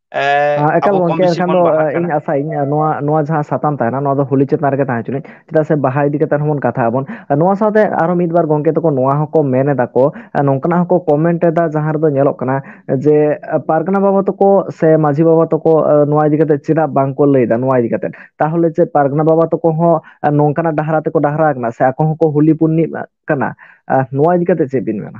ᱮᱸ ᱦᱮᱸ ᱮᱠᱟᱞ ᱟᱵᱚ ᱠᱚᱢ ᱜᱚᱝᱠᱮ ᱵᱮᱥᱤ ᱮᱱᱠᱷᱟᱱ ᱵᱚᱱ ᱫᱚ ᱵᱟᱦᱟᱜ ᱠᱟᱱᱟ ᱤᱧ ᱟᱥᱟᱭᱟᱹᱧ ᱱᱚᱣᱟ ᱱᱚᱣᱟ ᱡᱟᱦᱟᱸ ᱥᱟᱛᱟᱢ ᱛᱟᱦᱮᱱᱟ ᱱᱚᱣᱟ ᱫᱚ ᱦᱳᱞᱤ ᱪᱮᱛᱟᱱ ᱨᱮᱜᱮ ᱛᱟᱦᱮᱸ ᱦᱚᱪᱚᱱᱤᱡ ᱪᱮᱫᱟᱜ ᱥᱮ ᱵᱟᱦᱟ ᱤᱫᱤ ᱠᱟᱛᱮ ᱦᱚᱸᱵᱚᱱ ᱠᱟᱛᱷᱟᱜ ᱟᱵᱚᱱ ᱱᱚᱣᱟ ᱥᱟᱶᱛᱮ ᱟᱨᱚ ᱢᱤᱫ ᱵᱟᱨ ᱜᱚᱝᱠᱮ ᱛᱟᱠᱚ ᱱᱚᱣᱟ ᱦᱚᱸᱠᱚ ᱢᱮᱱ ᱮᱫᱟ ᱠᱚ ᱱᱚᱝᱠᱟᱱᱟᱜ ᱦᱚᱸᱠᱚ ᱠᱚᱢᱮᱱᱴ ᱮᱫᱟ ᱡᱟᱦᱟᱸ ᱨᱮᱫᱚ ᱧᱮᱞᱚᱜ ᱠᱟᱱᱟ ᱡᱮ ᱯᱟᱨᱜᱟᱱᱟ ᱵᱟᱵᱟ ᱛᱟᱠᱚ ᱥᱮ ᱢᱟᱹᱡᱷᱤ ᱵᱟᱵᱟ ᱛᱟᱠᱚ ᱱᱚᱣᱟ ᱤᱫᱤ ᱠᱟᱛᱮ ᱪᱮᱫᱟᱜ ᱵᱟᱝᱠᱚ ᱞᱟᱹᱭᱫᱟ ᱱᱚᱣᱟ ᱤᱫᱤ ᱠᱟᱛᱮ ᱛᱟᱦᱚᱞᱮ ᱪᱮᱫ ᱯᱟᱨᱜᱟᱱᱟ ᱵᱟᱵᱟ ᱛᱟᱠᱚ ᱦᱚᱸ ᱱᱚᱝᱠᱟᱱᱟᱜ ᱰᱟᱦᱟᱨᱟ ᱛᱮᱠᱚ ᱰᱟᱦᱟᱨᱟ ᱟᱠᱟᱱᱟ ᱥᱮ ᱟᱠᱚ ᱦᱚᱸᱠᱚ ᱦᱩᱞᱤ ᱯᱩᱨᱱᱤᱢᱟ ᱠᱟᱱᱟ ᱟᱨ ᱱᱚᱣᱟ ᱤᱫᱤ ᱠᱟᱛᱮ ᱪᱮᱫ ᱵᱤᱱ ᱢᱮᱱᱟ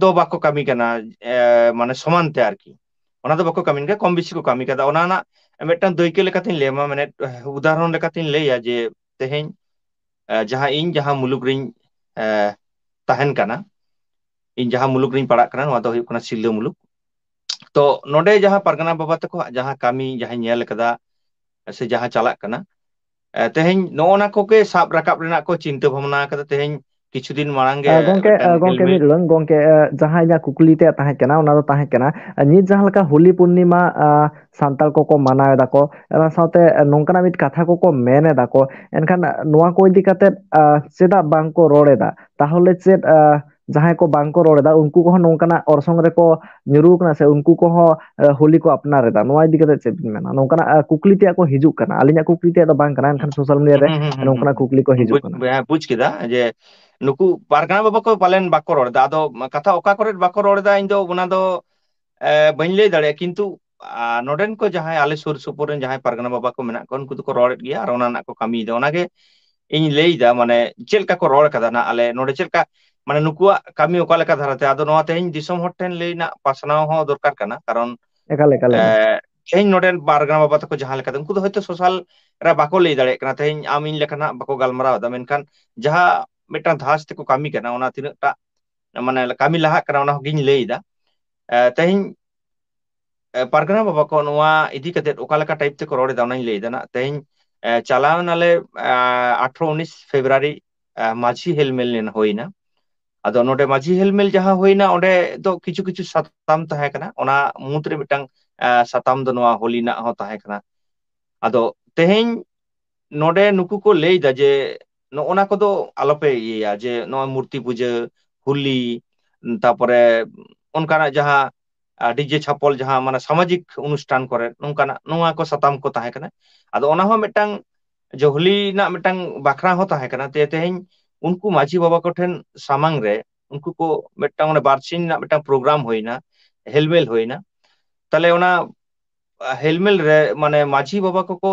ᱫᱚ ᱵᱟᱠᱚ ᱠᱟᱹᱢᱤ ᱠᱟᱱᱟ ᱮ ᱢᱟᱱᱮ ᱥᱚᱢᱟᱱ ᱛᱮ ᱟᱨᱠᱤ ᱚᱱᱟ ᱫᱚ ᱵᱟᱠᱚ ᱠᱟᱹᱢᱤ ᱜᱮᱭᱟ ᱠᱚᱢ ᱵᱮᱥᱤ ᱠᱚ ᱠᱟᱹᱢᱤ ᱠᱟᱫᱟ ᱚᱱᱟ ᱨᱮᱱᱟᱜ ᱢᱤᱫᱴᱟᱝ ᱫᱟᱹᱭᱠᱟᱹ ᱞᱮᱠᱟᱛᱤᱧ ᱞᱟᱹᱭᱟᱢᱟ ᱢᱟᱱᱮ ᱩᱫᱟᱦᱚᱨᱚᱱ ᱞᱮᱠᱟᱛᱤᱧ ᱞᱟᱹᱭᱟ ᱡᱮ ᱛᱮᱦᱮᱧ ᱡᱟᱦᱟᱸ ᱤᱧ ᱡᱟᱦᱟᱸ ᱢᱩᱞᱩᱠ ᱨᱤᱧ ᱮ ᱛᱟᱦᱮᱱ ᱠᱟᱱᱟ ᱤᱧ ᱡᱟᱦᱟᱸ ᱢᱩᱞᱩᱠ ᱨᱤᱧ ᱯᱟᱲᱟᱜ ᱠᱟᱱᱟ ᱱᱚᱣᱟ ᱫᱚ ᱦᱩᱭᱩᱜ ᱠᱟᱱᱟ ᱥᱤᱞᱫᱟᱹ ᱢᱩᱞᱩᱠ ᱛᱚ ᱱᱚᱰᱮ ᱡᱟᱦᱟᱸ ᱯᱟᱨᱜᱟᱱᱟ ᱵᱟᱵᱟ ᱛᱟᱠᱚᱣᱟᱜ ᱡᱟᱦᱟᱸ ᱠᱟᱹᱢᱤ ᱡᱟᱦᱟᱸᱧ ᱧᱮᱞ ᱠᱟᱫᱟ ᱥᱮ ᱡᱟᱦᱟᱸ ᱪᱟᱞᱟᱜ ᱠᱟᱱᱟ ᱛᱮᱦᱮᱧ ᱱᱚᱜᱼᱚ ᱱᱟ ᱠᱚᱜᱮ ᱥᱟᱵ ᱨᱟᱠᱟᱵ ᱨᱮᱱᱟᱜ ᱠᱚ ᱪᱤᱱᱛᱟᱹ ᱵᱷᱟᱵᱱᱟ ᱟᱠᱟᱫᱟ ᱛᱮᱦᱮᱧ ᱠᱤᱪᱷᱩ ᱫᱤᱱ ᱢᱟᱲᱟᱝ ᱜᱮ ᱜᱚᱝᱠᱮ ᱢᱤᱫᱴᱟᱝ ᱜᱚᱝᱠᱮ ᱢᱤᱫ ᱦᱮᱞᱢᱮᱞ ᱞᱟᱹᱭ ᱜᱚᱝᱠᱮ ᱡᱟᱦᱟᱸ ᱤᱧᱟᱹᱜ ᱠᱩᱠᱞᱤ ᱛᱮᱭᱟᱜ ᱛᱟᱦᱮᱸ ᱠᱟᱱᱟ ᱚᱱᱟ ᱫᱚ ᱛᱟᱦᱮᱸ ᱠᱟᱱᱟ ᱱᱤᱛ ᱡᱟᱦᱟᱸ ᱞᱮᱠᱟ ᱦᱳᱞᱤ ᱯᱩᱨᱱᱤᱢᱟ ᱥᱟᱱᱛᱟᱲ ᱠᱚᱠᱚ ᱢᱟᱱᱟᱣ ᱮᱫᱟ ᱠᱚ ᱚᱱᱟ ᱥᱟᱶᱛᱮ ᱱᱚᱝᱠᱟᱱᱟᱜ ᱢᱤᱫ ᱠᱟᱛᱷᱟ ᱠᱚᱠᱚ ᱢᱮᱱ ᱮᱫᱟ ᱠᱚ ᱮᱱᱠᱷᱟᱱ ᱱᱚᱣᱟ ᱠᱚ ᱤᱫᱤ ᱠᱟᱛᱮᱫ ᱪᱮᱫᱟᱜ ᱵᱟᱝᱠᱚ ᱨᱚᱲ ᱮᱫᱟ ᱛᱟᱦᱚᱞᱮ ᱪᱮᱫ ᱡᱟᱦᱟᱸᱭ ᱠᱚ ᱵᱟᱝ ᱠᱚ ᱨᱚᱲ ᱮᱫᱟ ᱩᱱᱠᱩ ᱠᱚᱦᱚᱸ ᱱᱚᱝᱠᱟᱱᱟᱜ ᱚᱨᱥᱚᱝ ᱨᱮᱠᱚ ᱧᱩᱨᱩᱣ ᱠᱟᱱᱟ ᱥᱮ ᱩᱱᱠᱩ ᱠᱚᱦᱚᱸ ᱦᱳᱞᱤ ᱠᱚ ᱟᱯᱱᱟᱨ ᱮᱫᱟ ᱱᱚᱣᱟ ᱤᱫᱤ ᱠᱟᱛᱮᱜ ᱪᱮᱫ ᱵᱤᱱ ᱢᱮᱱᱟ ᱱᱚᱝᱠᱟᱱᱟᱜ ᱠᱩᱠᱞᱤ ᱛᱮᱭᱟᱜ ᱠᱚ ᱦᱤᱡᱩᱜ ᱠᱟᱱᱟ ᱟᱹᱞᱤᱧᱟᱜ ᱠᱩᱠ ᱞᱤ ᱛᱮᱫᱚ ᱵᱟᱝ ᱠᱟᱱᱟ ᱮᱱᱠᱷᱟᱱ ᱥᱳᱥᱟᱞ ᱢᱤᱰᱤᱭᱟ ᱨᱮ ᱦᱩᱸ ᱦᱩᱸ ᱦᱩᱸ ᱱᱚᱝᱠᱟᱱᱟᱜ ᱠᱩᱠᱞᱤ ᱠᱚ ᱦᱩᱸ ᱦᱤᱡᱩᱜ ᱵᱩᱡ ᱠᱟᱱᱟ᱾ ᱦᱮᱸ ᱵᱩᱡ ᱠᱮᱫᱟ ᱡᱮ ᱱᱩᱠᱩ ᱯᱟᱨᱜᱟᱱᱟ ᱵᱟᱵᱟ ᱠᱚ ᱯᱟᱞᱮᱱ ᱵᱟᱠᱚ ᱨᱚᱲ ᱮᱫᱟ ᱟᱫᱚ ᱠᱟᱛᱷᱟ ᱚᱠᱟ ᱠᱚᱨᱮᱫ ᱵᱟᱠᱚ ᱨᱚᱲ ᱮᱫᱟ ᱤᱧ ᱫᱚ ᱚᱱᱟ ᱫᱚ ᱮ ᱵᱟᱹᱧ ᱞᱟᱹᱭ ᱫᱟᱲᱮᱭᱟᱜᱼᱟ ᱠᱤᱱᱛᱩ ᱟᱨ ᱱᱚᱸᱰᱮᱱ ᱠᱚ ᱡᱟᱦᱟᱸᱭ ᱟᱞᱮ ᱥᱩᱨ ᱥᱩᱯᱩᱨ ᱨᱮᱱ ᱡᱟᱦᱟᱸᱭ ᱯᱟᱨᱜᱟᱱᱟ ᱵᱟᱵᱟ ᱠᱚ ᱢᱮᱱᱟᱜ ᱠᱚᱣᱟ ᱩᱱᱠᱩ ᱫᱚᱠᱚ ᱨᱚᱲᱮᱫ ᱜᱮᱭᱟ ᱟᱨ ᱚᱱᱟ ᱨᱮᱱᱟᱜ ᱠᱚ ᱠᱟᱹᱢᱤᱭᱮᱫᱟ ᱚᱱᱟᱜᱮ ᱤᱧ ᱞᱟᱹᱭᱫᱟ ᱢᱟᱱᱮ ᱪᱮᱫ ᱞᱮᱠᱟ ᱠᱚ ᱨᱚᱲ ᱠᱟᱫᱟ ᱱᱟᱜ ᱟᱞᱮ ᱱᱚᱰᱮ ᱪᱮᱫ ᱞᱮᱠᱟ ᱢᱟᱱᱮ ᱱᱩᱠᱩᱣᱟᱜ ᱠᱟᱹᱢᱤ ᱚᱠᱟ ᱞᱮᱠᱟ ᱫᱷᱟᱨᱟᱛᱮ ᱟᱫᱚ ᱱᱚᱣᱟ ᱛᱮᱦᱮᱧ ᱫᱤᱥᱚᱢ ᱦᱚᱲ ᱴᱷᱮᱱ ᱞᱟᱹᱭ ᱨᱮᱱᱟᱜ ᱯᱟᱥᱱᱟᱣ ᱦᱚᱸ ᱫᱚᱨᱠᱟᱨ ᱠᱟᱱᱟ ᱠᱟᱨᱚᱱ ᱮᱠᱟᱞ ᱮᱠᱟᱞ ᱮᱠᱟᱞ ᱮᱸ ᱛᱮᱦᱮᱧ ᱱᱚᱸᱰᱮᱱ ᱯᱟᱨᱜᱟᱱᱟ ᱵᱟᱵᱟ ᱛᱟᱠᱚ ᱡᱟᱦᱟᱸ ᱞᱮᱠᱟ ᱩᱱᱠᱩ ᱫᱚ ᱦᱚᱭᱛᱳ ᱥᱳᱥᱟᱞ ᱨᱮ ᱵᱟᱠᱚ ᱞᱟᱹᱭ ᱫᱟᱲᱮᱭᱟᱜ ᱠᱟᱱᱟ ᱛᱮᱦᱤᱧ ᱟᱢ ᱤᱧ ᱞᱮᱠᱟᱱᱟᱜ ᱵᱟᱠᱚ ᱜᱟᱞᱢᱟᱨᱟᱣ ᱮᱫᱟ ᱢᱮᱱᱠᱷᱟᱱ ᱡᱟᱦᱟᱸ ᱢᱤᱫᱴᱟᱝ ᱫᱷᱟᱥ ᱛᱮᱠᱚ ᱠᱟᱹᱢᱤ ᱠᱟᱱᱟ ᱚᱱᱟ ᱛᱤᱱᱟᱹᱜ ᱴᱟᱜ ᱢᱟᱱᱮ ᱠᱟᱹᱢᱤ ᱞᱟᱦᱟᱜ ᱠᱟᱱᱟ ᱚᱱᱟ ᱦᱚᱸᱜᱤᱧ ᱞᱟᱹᱭᱫᱟ ᱛᱮᱦᱮᱧ ᱯᱟᱨᱜᱟᱱᱟ ᱵᱟᱵᱟ ᱠᱚ ᱱᱚᱣᱟ ᱤᱫᱤ ᱠᱟᱛᱮᱫ ᱚᱠᱟ ᱞᱮᱠᱟ ᱴᱟᱭᱤᱯ ᱛᱮᱠᱚ ᱨᱚᱲ ᱮᱫᱟ ᱚᱱᱟᱧ ᱞᱟᱹᱭᱮᱫᱟ ᱱᱟᱜ ᱛᱮᱦᱮᱧ ᱪᱟᱞᱟᱣ ᱱᱟᱞᱮ ᱟᱴᱷᱨᱚ ᱩᱱᱤᱥ ᱯᱷᱮᱵᱨᱩᱣᱟᱨᱤ ᱢᱟᱡᱷᱤ ᱦᱮᱞᱢᱮᱞ ᱞᱮᱱ ᱦᱩᱭᱱᱟ ᱟᱫᱚ ᱱᱚᱰᱮ ᱢᱟᱡᱷᱤ ᱦᱮᱞᱢᱮᱞ ᱡᱟᱦᱟᱸ ᱦᱩᱭᱱᱟ ᱚᱸᱰᱮ ᱫᱚ ᱠᱤᱪᱷᱩ ᱠᱤᱪᱷᱩ ᱥᱟᱛᱟᱢ ᱛᱟᱦᱮᱸ ᱠᱟᱱᱟ ᱚᱱᱟ ᱢᱩᱫᱽ ᱨᱮ ᱢᱤᱫᱴᱟᱝ ᱥᱟᱛᱟᱢ ᱫᱚ ᱱᱚᱣᱟ ᱦᱳᱞᱤ ᱨᱮᱱᱟᱜ ᱦᱚᱸ ᱛᱟᱦᱮᱸ ᱠᱟᱱᱟ ᱟᱫᱚ ᱛᱮᱦᱮᱧ ᱱᱚᱰᱮ ᱱᱩᱠᱩ ᱠᱚ ᱞᱟᱹᱭ ᱮᱫᱟ ᱡᱮ ᱱᱚᱜᱼᱚ ᱱᱟ ᱠᱚᱫᱚ ᱟᱞᱚᱯᱮ ᱤᱭᱟᱹᱭᱟ ᱡᱮ ᱱᱚᱜᱼᱚᱭ ᱢᱩᱨᱛᱤ ᱯᱩᱡᱟᱹ ᱦᱳᱞᱤ ᱛᱟᱨᱯᱚᱨᱮ ᱚᱱᱠᱟᱱᱟᱜ ᱡᱟᱦᱟᱸ ᱰᱤᱡᱮ ᱪᱷᱟᱯᱚᱞ ᱡᱟᱦᱟᱸ ᱢᱟᱱᱮ ᱥᱟᱢᱟᱡᱤᱠ ᱚᱱᱩᱥᱴᱷᱟᱱ ᱠᱚᱨᱮ ᱱᱚᱝᱠᱟᱱᱟᱜ ᱱᱚᱣᱟ ᱠᱚ ᱥᱟᱛᱟᱢ ᱠᱚ ᱛᱟᱦᱮᱸ ᱠᱟᱱᱟ ᱟᱫᱚ ᱚᱱᱟ ᱦᱚᱸ ᱢᱤᱫᱴᱟᱝ ᱡᱚᱦᱞᱤ ᱨᱮᱱᱟᱜ ᱢᱤᱫᱴᱟᱝ ᱵᱟᱠᱷᱨᱟ ᱦᱚᱸ ᱛᱟᱦᱮᱸ ᱠᱟᱱᱟ ᱡᱮ ᱛᱮᱦᱮᱧ ᱩᱱᱠᱩ ᱢᱟᱺᱡᱷᱤ ᱵᱟᱵᱟ ᱠᱚᱴᱷᱮᱱ ᱥᱟᱢᱟᱝ ᱨᱮ ᱩᱱᱠᱩ ᱠᱚ ᱢᱤᱫᱴᱟᱝ ᱵᱟᱨᱥᱤ ᱨᱮᱱᱟᱜ ᱢᱤᱫᱴᱟᱝ ᱯᱨᱳᱜᱨᱟᱢ ᱦᱩᱭᱱᱟ ᱦᱮᱞᱢᱮᱞ ᱦᱩᱭᱱᱟ ᱛᱟᱦᱚᱞᱮ ᱚᱱᱟ ᱦᱮᱞᱢᱮᱞ ᱨᱮ ᱢᱟᱱᱮ ᱢᱟᱺᱡᱷᱤ ᱵᱟᱵᱟ ᱠᱚᱠᱚ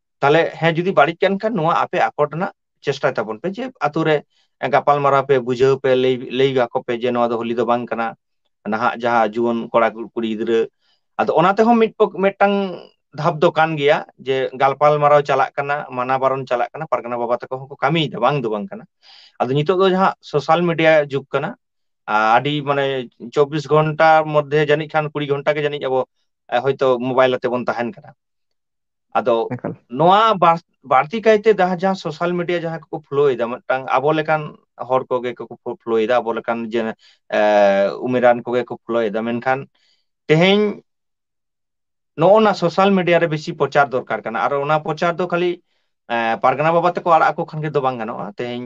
ᱛᱟᱦᱚᱞᱮ ᱦᱮᱸ ᱡᱩᱫᱤ ᱵᱟᱹᱲᱤᱡ ᱠᱟᱱ ᱠᱷᱟᱱ ᱱᱚᱣᱟ ᱟᱯᱮ ᱟᱠᱚᱴ ᱨᱮᱱᱟᱜ ᱪᱮᱥᱴᱟᱭ ᱛᱟᱵᱚᱱ ᱯᱮ ᱡᱮ ᱟᱛᱳ ᱨᱮ ᱜᱟᱯᱟᱞ ᱢᱟᱨᱟᱣ ᱯᱮ ᱵᱩᱡᱷᱟᱹᱣ ᱯᱮ ᱞᱟᱹᱭ ᱞᱟᱹᱭ ᱟᱠᱚ ᱯᱮ ᱡᱮ ᱱᱚᱣᱟ ᱫᱚ ᱦᱳᱞᱤ ᱫᱚ ᱵᱟᱝ ᱠᱟᱱᱟ ᱱᱟᱦᱟᱜ ᱡᱟᱦᱟᱸ ᱡᱩᱣᱟᱹᱱ ᱠᱚᱲᱟ ᱠᱩᱲᱤ ᱜᱤᱫᱽᱨᱟᱹ ᱟᱫᱚ ᱚᱱᱟ ᱛᱮᱦᱚᱸ ᱢᱤᱫ ᱯᱚᱠ ᱢᱤᱫᱴᱟᱝ ᱫᱷᱟᱯ ᱫᱚ ᱠᱟᱱ ᱜᱮᱭᱟ ᱡᱮ ᱜᱟᱞᱯᱟᱞ ᱢᱟᱨᱟᱣ ᱪᱟᱞᱟᱜ ᱠᱟᱱᱟ ᱢᱟᱱᱟ ᱵᱟᱨᱚᱱ ᱪᱟᱞᱟᱜ ᱠᱟᱱᱟ ᱯᱟᱨᱜᱟᱱᱟ ᱵᱟᱵᱟ ᱛᱟᱠᱚ ᱦᱚᱸᱠᱚ ᱠᱟᱹᱢᱤᱭᱮᱫᱟ ᱵᱟᱝ ᱫᱚ ᱵᱟᱝ ᱠᱟᱱᱟ ᱟᱫᱚ ᱱᱤᱛᱚᱜ ᱫᱚ ᱡᱟᱦᱟᱸ ᱥᱳᱥᱟᱞ ᱢᱤᱰᱤᱭᱟ ᱡᱩᱜᱽ ᱠᱟᱱᱟ ᱟᱹᱰᱤ ᱢᱟᱱᱮ ᱪᱚᱵᱽᱵᱤᱥ ᱜᱷᱚᱱᱴᱟ ᱢᱚᱫᱽᱫᱷᱮ ᱡᱟᱹᱱᱤᱡ ᱠᱷᱟᱱ ᱠᱩᱲᱤ ᱜᱷᱚᱱᱴᱟ ᱜᱮ ᱡᱟᱹᱱᱤᱡ ᱟᱵᱚ ᱦᱳᱭᱛᱳ ᱢᱳᱵᱟᱭᱤᱞ ᱟᱛᱮ ᱵᱚᱱ ᱛᱟᱦᱮᱱ ᱠᱟᱱᱟ ᱟᱫᱚ ᱮᱠᱟᱞ ᱱᱚᱣᱟ ᱵᱟᱥ ᱵᱟᱹᱲᱛᱤ ᱠᱟᱭᱛᱮ ᱡᱟᱦᱟᱸ ᱡᱟᱦᱟᱸ ᱥᱳᱥᱟᱞ ᱢᱤᱰᱤᱭᱟ ᱡᱟᱦᱟᱸᱭ ᱠᱚᱠᱚ ᱯᱷᱳᱞᱳᱭ ᱮᱫᱟ ᱢᱤᱫᱴᱟᱝ ᱟᱵᱚ ᱞᱮᱠᱟᱱ ᱦᱚᱲ ᱠᱚᱜᱮ ᱠᱚ ᱯᱷᱳᱞᱳᱭ ᱮᱫᱟ ᱟᱵᱚ ᱞᱮᱠᱟᱱ ᱡᱮ ᱮ ᱩᱢᱮᱨᱟᱱ ᱠᱚᱜᱮ ᱠᱚ ᱯᱷᱳᱞᱳᱭ ᱮᱫᱟ ᱢᱮᱱᱠᱷᱟᱱ ᱛᱮᱦᱮᱧ ᱱᱚᱜᱼᱚ ᱱᱟ ᱥᱳᱥᱟᱞ ᱢᱤᱰᱤᱭᱟ ᱨᱮ ᱵᱮᱥᱤ ᱯᱨᱚᱪᱟᱨ ᱫᱚᱨᱠᱟᱨ ᱠᱟᱱᱟ ᱟᱨ ᱚᱱᱟ ᱯᱨᱚᱪᱟᱨ ᱫᱚ ᱠᱷᱟᱹᱞᱤ ᱯᱟᱨᱜᱟᱱᱟ ᱵᱟᱵᱟ ᱛᱮᱠᱚ ᱟᱲᱟᱜ ᱟᱠᱚ ᱠᱷᱟᱱ ᱜᱮ ᱫᱚ ᱵᱟᱝ ᱜᱟᱱᱚᱜᱼᱟ ᱛᱮᱦᱤᱧ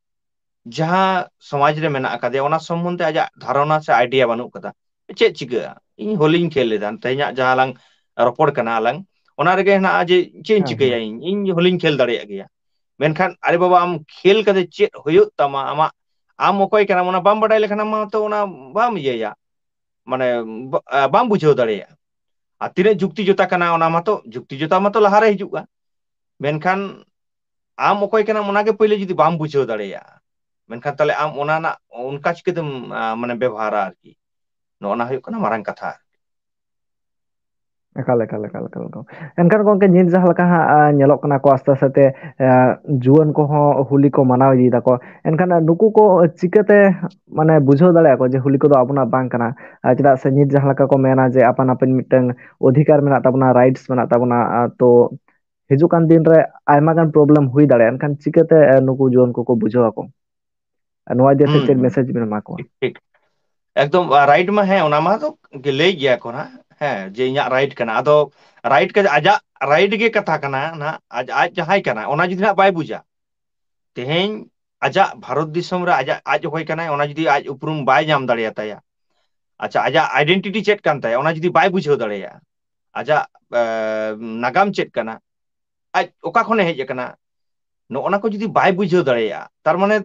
ᱡᱟᱦᱟᱸ ᱥᱚᱢᱟᱡᱽ ᱨᱮ ᱢᱮᱱᱟᱜ ᱟᱠᱟᱫᱮᱭᱟ ᱚᱱᱟ ᱥᱚᱢᱚᱱᱫᱷᱮ ᱟᱡᱟᱜ ᱫᱷᱟᱨᱚᱱᱟ ᱥᱮ ᱟᱭᱰᱤᱭᱟ ᱵᱟᱹᱱᱩᱜ ᱟᱠᱟᱫᱟ ᱪᱮᱫ ᱪᱤᱠᱟᱹᱜᱼᱟ ᱤᱧ ᱦᱳᱞᱤᱧ ᱠᱷᱮᱞ ᱞᱮᱫᱟ ᱛᱮᱦᱮᱧᱟᱜ ᱡᱟᱦᱟᱸ ᱞᱟᱝ ᱨᱚᱯᱚᱲ ᱠᱟᱱᱟ ᱟᱞᱟᱝ ᱚᱱᱟ ᱨᱮᱜᱮ ᱦᱮᱱᱟᱜᱼᱟ ᱡᱮ ᱪᱮᱫ ᱤᱧ ᱦᱮᱸ ᱦᱮᱸ ᱪᱤᱠᱟᱹᱭᱟ ᱤᱧ ᱤᱧ ᱦᱚᱞᱤᱧ ᱠᱷᱮᱞ ᱫᱟᱲᱮᱭᱟᱜ ᱜᱮᱭᱟ ᱢᱮᱱᱠᱷᱟᱱ ᱟᱨᱮ ᱵᱟᱵᱟ ᱟᱢ ᱠᱷᱮᱞ ᱠᱟᱛᱮ ᱪᱮᱫ ᱦᱩᱭᱩᱜ ᱛᱟᱢᱟ ᱟᱢᱟᱜ ᱟᱢ ᱚᱠᱚᱭ ᱠᱟᱱᱟᱢ ᱚᱱᱟ ᱵᱟᱢ ᱵᱟᱰᱟᱭ ᱞᱮᱠᱷᱟᱱ ᱟᱢ ᱢᱟᱛᱚ ᱚᱱᱟ ᱵᱟᱢ ᱤᱭᱟᱹᱭᱟ ᱢᱟᱱᱮ ᱵᱟᱢ ᱵᱩᱡᱷᱟᱹᱣ ᱫᱟᱲᱮᱭᱟᱜᱼᱟ ᱟᱨ ᱛᱤᱱᱟᱹᱜ ᱡᱩᱠᱛᱤ ᱡᱚᱛᱟ ᱠᱟᱱᱟ ᱚᱱᱟ ᱢᱟᱛᱚ ᱡᱩᱠᱛᱤ ᱡᱚᱛᱟ ᱢᱟᱛᱚ ᱞᱟᱦᱟᱨᱮ ᱦᱤᱡᱩᱜᱼᱟ ᱢᱮᱱᱠᱷᱟᱱ ᱟᱢ ᱚᱠᱚᱭ ᱠᱟᱱᱟᱢ ᱚᱱᱟᱜᱮ ᱯᱳᱭᱞᱳ ᱡᱩᱫᱤ ᱵᱟᱢ ᱵᱩᱡᱷᱟᱹᱣ ᱫᱟᱲᱮᱭᱟᱜᱼᱟ ᱢᱮᱱᱠᱷᱟᱱ ᱛᱟᱦᱚᱞᱮ ᱟᱢ ᱚᱱᱟ ᱨᱮᱱᱟᱜ ᱚᱱᱠᱟ ᱪᱤᱠᱟᱹᱛᱮᱢ ᱢᱟᱱᱮ ᱵᱮᱵᱚᱦᱟᱨᱟ ᱟᱨᱠᱤ ᱱᱚᱜᱼᱚ ᱱᱟ ᱦᱩᱭᱩᱜ ᱠᱟᱱᱟ ᱢᱟᱨᱟᱝ ᱠᱟᱛᱷᱟ ᱮᱠᱟᱞ ᱮᱠᱟᱞ ᱮᱠᱟᱞ ᱮᱠᱟᱞ ᱮᱠᱟᱞ ᱮᱱᱠᱷᱟᱱ ᱜᱚᱝᱠᱮ ᱱᱤᱛ ᱡᱟᱦᱟᱸ ᱞᱮᱠᱟ ᱦᱟᱸᱜ ᱧᱮᱞᱚᱜ ᱠᱟᱱᱟ ᱠᱚ ᱟᱥᱛᱮ ᱟᱥᱛᱮ ᱛᱮ ᱡᱩᱣᱟᱹᱱ ᱠᱚᱦᱚᱸ ᱦᱳᱞᱤ ᱠᱚ ᱢᱟᱱᱟᱣ ᱤᱫᱤᱭ ᱫᱟᱠᱚ ᱮᱱᱠᱷᱟᱱ ᱱᱩᱠᱩ ᱠᱚ ᱪᱤᱠᱟᱹᱛᱮ ᱢᱟᱱᱮ ᱵᱩᱡᱷᱟᱹᱣ ᱫᱟᱲᱮᱭᱟᱜ ᱠᱚ ᱡᱮ ᱦᱳᱞᱤ ᱠᱚᱫᱚ ᱟᱵᱚᱱᱟᱜ ᱵᱟᱝ ᱠᱟᱱᱟ ᱟᱨ ᱪᱮᱫᱟᱜ ᱥᱮ ᱱᱤᱛ ᱡᱟᱦᱟᱸ ᱞᱮᱠᱟ ᱠᱚ ᱢᱮᱱᱟ ᱡᱮ ᱟᱯᱟᱱ ᱟᱹᱯᱤᱱ ᱢᱤᱫᱴᱟᱝ ᱚᱫᱷᱤᱠᱟᱨ ᱢᱮᱱᱟᱜ ᱛᱟᱵᱚᱱᱟ ᱨᱟᱭᱤᱴᱥ ᱢᱮᱱᱟᱜ ᱛᱟᱵᱚᱱᱟ ᱛᱚ ᱦᱤᱡᱩᱜ ᱠᱟᱱ ᱫᱤᱱ ᱨᱮ ᱟᱭᱢᱟ ᱜᱟᱱ ᱯᱨᱚᱵᱞᱮᱢ ᱦᱩᱭ ᱫᱟᱲᱮᱭᱟᱜᱼᱟ ᱮᱱᱠᱷᱟᱱ ᱪᱤᱠᱟᱹᱛᱮ ᱱᱩᱠᱩ ᱡᱩᱣᱟᱹᱱ ᱠᱚᱠᱚ ᱵᱩᱡᱷᱟᱹᱣ ᱟᱠᱚ ᱟᱨ ᱱᱚᱣᱟ ᱤᱫᱤ ᱠᱟᱛᱮ ᱦᱩᱸ ᱪᱮᱫ ᱦᱩᱸ ᱢᱮᱥᱮᱡᱽ ᱵᱮᱱ ᱮᱢᱟ ᱠᱚᱣᱟ ᱴᱷᱤᱠ ᱴᱷᱤᱠ ᱮᱠᱫᱚᱢ ᱨᱟᱭᱤᱴ ᱢᱟ ᱦᱮᱸ ᱚᱱᱟ ᱢᱟᱛᱚ ᱞᱟᱹᱭ ᱜᱮᱭᱟ ᱠᱚ ᱦᱟᱸᱜ ᱦᱮᱸ ᱡᱮ ᱤᱧᱟᱹᱜ ᱨᱟᱭᱤᱴ ᱠᱟᱱᱟ ᱟᱫᱚ ᱨᱟᱭᱤᱴ ᱠᱟᱛᱮ ᱟᱡᱟᱜ ᱨᱟᱭᱤᱴ ᱜᱮ ᱠᱟᱛᱷᱟ ᱠᱟᱱᱟ ᱱᱟᱦᱟᱜ ᱟᱡ ᱟᱡ ᱡᱟᱦᱟᱸᱭ ᱠᱟᱱᱟᱭ ᱚᱱᱟ ᱡᱩᱫᱤ ᱦᱟᱸᱜ ᱵᱟᱭ ᱵᱩᱡᱟ ᱛᱮᱦᱮᱧ ᱟᱡᱟᱜ ᱵᱷᱟᱨᱚᱛ ᱫᱤᱥᱚᱢ ᱨᱮ ᱟᱡᱟᱜ ᱟᱡ ᱚᱠᱚᱭ ᱠᱟᱱᱟᱭ ᱚᱱᱟ ᱡᱩᱫᱤ ᱟᱡ ᱩᱯᱨᱩᱢ ᱵᱟᱭ ᱧᱟᱢ ᱫᱟᱲᱮᱭᱟᱛᱟᱭᱟ ᱟᱪᱪᱷᱟ ᱟᱡᱟᱜ ᱟᱭᱰᱮᱱᱴᱤᱴᱤ ᱪᱮᱫ ᱠᱟᱱ ᱛᱟᱭᱟ ᱚᱱᱟ ᱡᱩᱫᱤ ᱵᱟᱭ ᱵᱩᱡᱷᱟᱹᱣ ᱫᱟᱲᱮᱭᱟᱜᱼᱟ ᱟᱡᱟᱜ ᱱᱟᱜᱟᱢ ᱪᱮᱫ ᱠᱟᱱᱟ ᱟᱡ ᱚᱠᱟ ᱠᱷᱚᱱᱮ ᱦᱮᱡ ᱟᱠᱟᱱᱟ ᱱᱚᱜᱼᱚ ᱱᱟ ᱠᱚ ᱡᱩᱫᱤ ᱵᱟᱭ ᱵᱩᱡᱷᱟᱹᱣ ᱫᱟᱲᱮᱭᱟᱜᱼᱟ ᱛᱟᱨᱢᱟᱱᱮ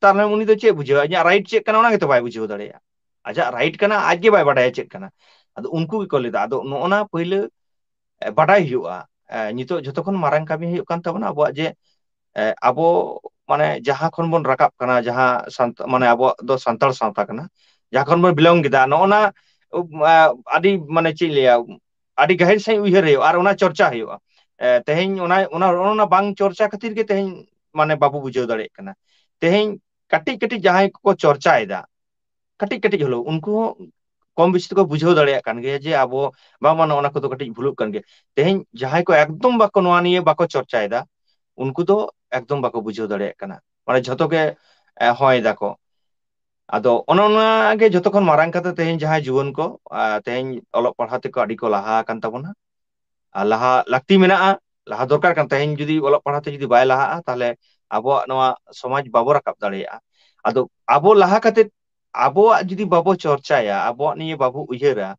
ᱛᱟᱦᱚᱞᱮ ᱩᱱᱤ ᱫᱚ ᱪᱮᱫ ᱵᱩᱡᱷᱟᱹᱣᱟ ᱤᱧᱟᱹᱜ ᱨᱟᱭᱤᱴ ᱪᱮᱫ ᱠᱟᱱᱟ ᱚᱱᱟ ᱜᱮᱛᱚ ᱵᱟᱭ ᱵᱩᱡᱷᱟᱹᱣ ᱫᱟᱲᱮᱭᱟᱜᱼᱟ ᱟᱡᱟᱜ ᱨᱟᱭᱤᱴ ᱠᱟᱱᱟ ᱟᱡ ᱜᱮ ᱵᱟᱭ ᱵᱟᱰᱟᱭᱟ ᱪᱮᱫ ᱠᱟᱱᱟ ᱟᱫᱚ ᱩᱱᱠᱩ ᱜᱮᱠᱚ ᱞᱟᱹᱭᱫᱟ ᱟᱫᱚ ᱱᱚᱜᱼᱚ ᱱᱟ ᱯᱟᱹᱭᱞᱟᱹ ᱵᱟᱰᱟᱭ ᱦᱩᱭᱩᱜᱼᱟ ᱱᱤᱛᱚᱜ ᱡᱷᱚᱛᱚ ᱠᱷᱚᱱ ᱢᱟᱨᱟᱝ ᱠᱟᱹᱢᱤ ᱦᱩᱭᱩᱜ ᱠᱟᱱ ᱛᱟᱵᱚᱱᱟ ᱟᱵᱚᱣᱟᱜ ᱡᱮ ᱟᱵᱚ ᱢᱟᱱᱮ ᱡᱟᱦᱟᱸ ᱠᱷᱚᱱ ᱵᱚᱱ ᱨᱟᱠᱟᱵ ᱠᱟᱱᱟ ᱡᱟᱦᱟᱸ ᱥᱟᱱᱛᱟ ᱢᱟᱱᱮ ᱟᱵᱚᱣᱟᱜ ᱫᱚ ᱥᱟᱱᱛᱟᱲ ᱥᱟᱶᱛᱟ ᱠᱟᱱᱟ ᱡᱟᱦᱟᱸ ᱠᱷᱚᱱ ᱵᱚᱱ ᱵᱤᱞᱚᱝ ᱠᱮᱫᱟ ᱱᱚᱜᱼᱚ ᱱᱟ ᱟᱹᱰᱤ ᱢᱟᱱᱮ ᱪᱮᱫ ᱤᱧ ᱞᱟᱹᱭᱟ ᱟᱹᱰᱤ ᱜᱟᱹᱦᱤᱨ ᱥᱟᱹᱦᱤᱡ ᱩᱭᱦᱟᱹᱨ ᱦᱩᱭᱩᱜᱼᱟ ᱟᱨ ᱚᱱᱟ ᱪᱚᱨᱪᱟ ᱦᱩᱭᱩᱜᱼᱟ ᱛᱮᱦᱮᱧ ᱚᱱᱟ ᱚᱱᱟ ᱚᱱᱟ ᱵᱟᱝ ᱪᱚᱨᱪᱟ ᱠᱷᱟᱹᱛᱤᱨ ᱜᱮ ᱛᱮᱦᱮᱧ ᱢᱟᱱᱮ ᱵᱟᱵᱚ ᱵᱩᱡᱷᱟᱹᱣ ᱫᱟᱲᱮᱭᱟᱜ ᱠᱟᱱᱟ ᱛᱮᱦᱮᱧ ᱠᱟᱹᱴᱤᱡ ᱠᱟᱹᱴᱤᱡ ᱡᱟᱦᱟᱸᱭ ᱠᱚᱠᱚ ᱪᱚᱨᱪᱟᱭᱮᱫᱟ ᱠᱟᱹᱴᱤᱡ ᱠᱟᱹᱴᱤᱡ ᱦᱚᱞᱳ ᱩᱱᱠᱩ ᱦᱚᱸ ᱠᱚᱢ ᱵᱮᱥᱤ ᱛᱮᱠᱚ ᱵᱩᱡᱷᱟᱹᱣ ᱫᱟᱲᱮᱭᱟᱜ ᱠᱟᱱ ᱜᱮᱭᱟ ᱡᱮ ᱟᱵᱚ ᱵᱟᱝ ᱢᱟ ᱱᱚᱜᱼᱚ ᱱᱚᱣᱟ ᱠᱚᱫᱚ ᱠᱟᱹᱴᱤᱡ ᱵᱷᱩᱞᱚᱜ ᱠᱟᱱ ᱜᱮᱭᱟ ᱛᱮᱦᱮᱧ ᱡᱟᱦᱟᱸᱭ ᱠᱚ ᱮᱠᱫᱚᱢ ᱵᱟᱠᱚ ᱱᱚᱣᱟ ᱱᱤᱭᱟᱹ ᱵᱟᱠᱚ ᱪᱚᱨᱪᱟᱭᱮᱫᱟ ᱩᱱᱠᱩ ᱫᱚ ᱮᱠᱫᱚᱢ ᱵᱟᱠᱚ ᱵᱩᱡᱷᱟᱹᱣ ᱫᱟᱲᱮᱭᱟᱜ ᱠᱟᱱᱟ ᱢᱟᱱᱮ ᱡᱷᱚᱛᱚ ᱜᱮ ᱦᱚᱭ ᱫᱟᱠᱚ ᱟᱫᱚ ᱚᱱᱮ ᱚᱱᱟ ᱜᱮ ᱡᱷᱚᱛᱚ ᱠᱷᱚᱱ ᱢᱟᱨᱟᱝ ᱠᱟᱛᱷᱟ ᱛᱮᱦᱮᱧ ᱡᱟᱦᱟᱸᱭ ᱡᱩᱣᱟᱹᱱ ᱠᱚ ᱛᱮᱦᱮᱧ ᱚᱞᱚᱜ ᱯᱟᱲᱦᱟᱜ ᱛᱮᱠᱚ ᱟᱹᱰᱤ ᱠᱚ ᱞᱟᱦᱟ ᱟᱠᱟᱱ ᱛᱟᱵᱚᱱᱟ ᱟᱨ ᱞᱟᱦᱟ ᱞᱟᱹᱠᱛᱤ ᱢᱮᱱᱟᱜᱼᱟ ᱞᱟᱦᱟ ᱫᱚᱨᱠᱟᱨ ᱠᱟᱱ ᱛᱮᱦᱮᱧ ᱡᱩᱫᱤ ᱚᱞᱚᱜ ᱯᱟᱲᱦᱟᱜ ᱛᱮ ᱡᱩᱫᱤ ᱵᱟᱭ ᱞᱟᱦᱟᱜᱼᱟ ᱛᱟᱦᱚᱞᱮ ᱟᱵᱚᱣᱟᱜ ᱱᱚᱣᱟ ᱥᱚᱢᱟᱡᱽ ᱵᱟᱵᱚ ᱨᱟᱠᱟᱵ ᱫᱟᱲᱮᱭᱟᱜᱼᱟ ᱟᱫᱚ ᱟᱵᱚ ᱞᱟᱦᱟ ᱠᱟᱛᱮᱫ ᱟᱵᱚᱣᱟᱜ ᱡᱩᱫᱤ ᱵᱟᱵᱚ ᱪᱚᱨᱪᱟᱭᱟ ᱟᱵᱚᱣᱟᱜ ᱱᱤᱭᱮ ᱵᱟᱵᱚ ᱩᱭᱦᱟᱹᱨᱟ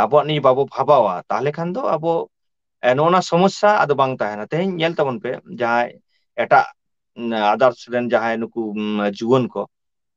ᱟᱵᱚᱣᱟᱜ ᱱᱤᱭᱟᱹ ᱵᱟᱵᱚ ᱵᱷᱟᱵᱟᱣᱟ ᱛᱟᱦᱚᱞᱮ ᱠᱷᱟᱱ ᱫᱚ ᱟᱵᱚ ᱱᱚᱜᱼᱚ ᱱᱚᱣᱟ ᱥᱚᱢᱚᱥᱥᱟ ᱟᱫᱚ ᱵᱟᱝ ᱛᱟᱦᱮᱱᱟ ᱛᱮᱦᱤᱧ ᱧᱮᱞ ᱛᱟᱵᱚᱱ ᱯᱮ ᱡᱟᱦᱟᱸᱭ ᱮᱴᱟᱜ ᱟᱫᱟᱨᱥ ᱨᱮᱱ ᱡᱟᱦᱟᱸᱭ ᱱᱩᱠᱩ ᱡᱩᱣᱟᱹᱱ ᱠᱚ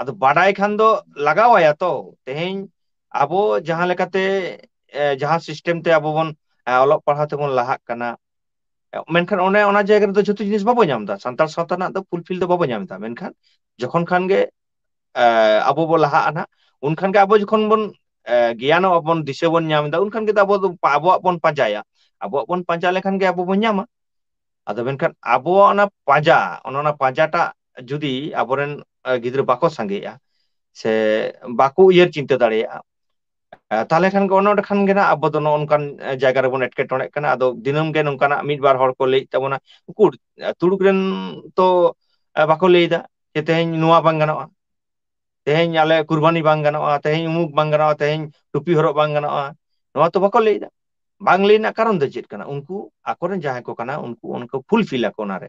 ᱟᱫᱚ ᱵᱟᱰᱟᱭ ᱠᱷᱟᱱ ᱫᱚ ᱞᱟᱜᱟᱣ ᱟᱭᱟ ᱛᱚ ᱛᱮᱦᱮᱧ ᱟᱵᱚ ᱡᱟᱦᱟᱸ ᱞᱮᱠᱟᱛᱮ ᱡᱟᱦᱟᱸ ᱥᱤᱥᱴᱮᱢ ᱛᱮ ᱟᱵᱚ ᱵᱚᱱ ᱚᱞᱚᱜ ᱯᱟᱲᱦᱟᱣ ᱛᱮᱵᱚᱱ ᱞᱟᱦᱟᱜ ᱠᱟᱱᱟ ᱢᱮᱱᱠᱷᱟᱱ ᱚᱱᱮ ᱚᱱᱟ ᱡᱟᱭᱜᱟ ᱨᱮᱫᱚ ᱡᱷᱚᱛᱚ ᱡᱤᱱᱤᱥ ᱵᱟᱵᱚ ᱧᱟᱢ ᱮᱫᱟ ᱥᱟᱱᱛᱟᱲ ᱥᱟᱶᱛᱟ ᱨᱮᱱᱟᱜ ᱫᱚ ᱯᱷᱩᱞ ᱯᱷᱤᱞ ᱫᱚ ᱵᱟᱵᱚ ᱧᱟᱢ ᱮᱫᱟ ᱢᱮᱱᱠᱷᱟᱱ ᱡᱚᱠᱷᱚᱱ ᱠᱷᱟᱱ ᱜᱮ ᱟᱵᱚ ᱵᱚᱱ ᱞᱟᱦᱟᱜᱼᱟ ᱱᱟᱦᱟᱜ ᱩᱱᱠᱷᱟᱱ ᱜᱮ ᱟᱵᱚ ᱡᱚᱠᱷᱚᱱ ᱵᱚᱱ ᱜᱮᱭᱟᱱᱚᱜ ᱟᱵᱚᱱ ᱫᱤᱥᱟᱹ ᱵᱚᱱ ᱧᱟᱢ ᱮᱫᱟ ᱩᱱᱠᱷᱟᱱ ᱜᱮ ᱟᱵᱚ ᱟᱵᱚᱣᱟᱜ ᱵᱚᱱ ᱯᱟᱸᱡᱟᱭᱟ ᱟᱵᱚᱣᱟᱜ ᱵᱚᱱ ᱯᱟᱸᱡᱟ ᱞᱮᱠᱷᱟᱱ ᱜᱮ ᱟᱵᱚ ᱵᱚᱱ ᱧᱟᱢᱟ ᱟᱫᱚ ᱢᱮᱱᱠᱷᱟᱱ ᱟᱵᱚᱣᱟᱜ ᱚᱱᱟ ᱯᱟᱸᱡᱟ ᱚᱱᱮ ᱚᱱᱟ ᱯᱟᱸᱡᱟᱴᱟᱜ ᱡᱩᱫᱤ ᱟᱵᱚᱨᱮᱱ ᱜᱤᱫᱽᱨᱟᱹ ᱵᱟᱠᱚ ᱥᱟᱸᱜᱮᱜᱼᱟ ᱥᱮ ᱵᱟᱠᱚ ᱩᱭᱦᱟᱹᱨ ᱪᱤᱱᱛᱟᱹ ᱫᱟᱲᱮᱭᱟᱜᱼᱟ ᱛᱟᱦᱚᱞᱮ ᱠᱷᱟᱱ ᱜᱮ ᱚᱱᱮ ᱚᱸᱰᱮ ᱠᱷᱟᱱ ᱜᱮ ᱱᱟᱜ ᱟᱵᱚ ᱫᱚ ᱱᱚᱜᱼᱚ ᱱᱚᱝᱠᱟᱱ ᱡᱟᱭᱜᱟ ᱨᱮᱵᱚᱱ ᱮᱴᱠᱮᱴᱚᱬᱮᱜ ᱠᱟᱱᱟ ᱟᱫᱚ ᱫᱤᱱᱟᱹᱢ ᱜᱮ ᱱᱚᱝᱠᱟᱱᱟᱜ ᱢᱤᱫ ᱵᱟᱨ ᱦᱚᱲ ᱠᱚ ᱞᱟᱹᱭᱮᱫ ᱛᱟᱵᱚᱱᱟ ᱩᱠᱩᱨ ᱛᱩᱲᱩᱠ ᱨᱮᱱ ᱛᱚ ᱵᱟᱠᱚ ᱞᱟᱹᱭ ᱮᱫᱟ ᱡᱮ ᱛᱮᱦᱮᱧ ᱱᱚᱣᱟ ᱵᱟᱝ ᱜᱟᱱᱚᱜᱼᱟ ᱛᱮᱦᱮᱧ ᱟᱞᱮ ᱠᱩᱨᱵᱟᱱᱤ ᱵᱟᱝ ᱜᱟᱱᱚᱜᱼᱟ ᱛᱮᱦᱮᱧ ᱩᱢᱩᱠ ᱵᱟᱝ ᱜᱟᱱᱚᱜᱼᱟ ᱛᱮᱦᱮᱧ ᱴᱩᱯᱤ ᱦᱚᱨᱚᱜ ᱵᱟᱝ ᱜᱟᱱᱚᱜᱼᱟ ᱱᱚᱣᱟ ᱛᱚ ᱵᱟᱠᱚ ᱞᱟᱹᱭᱮᱫᱟ ᱵᱟᱝ ᱞᱟᱹᱭ ᱨᱮᱱᱟᱜ ᱠᱟᱨᱚᱱ ᱫᱚ ᱪᱮᱫ ᱠᱟᱱᱟ ᱩᱱᱠᱩ ᱟᱠᱚᱨᱮᱱ ᱡᱟᱦᱟᱸᱭ ᱠᱚ ᱠᱟᱱᱟ ᱩᱱᱠᱩ ᱚᱱᱠᱟ ᱯᱷᱩᱞ ᱯᱷᱤᱞ ᱟᱠᱚ ᱚᱱᱟᱨᱮ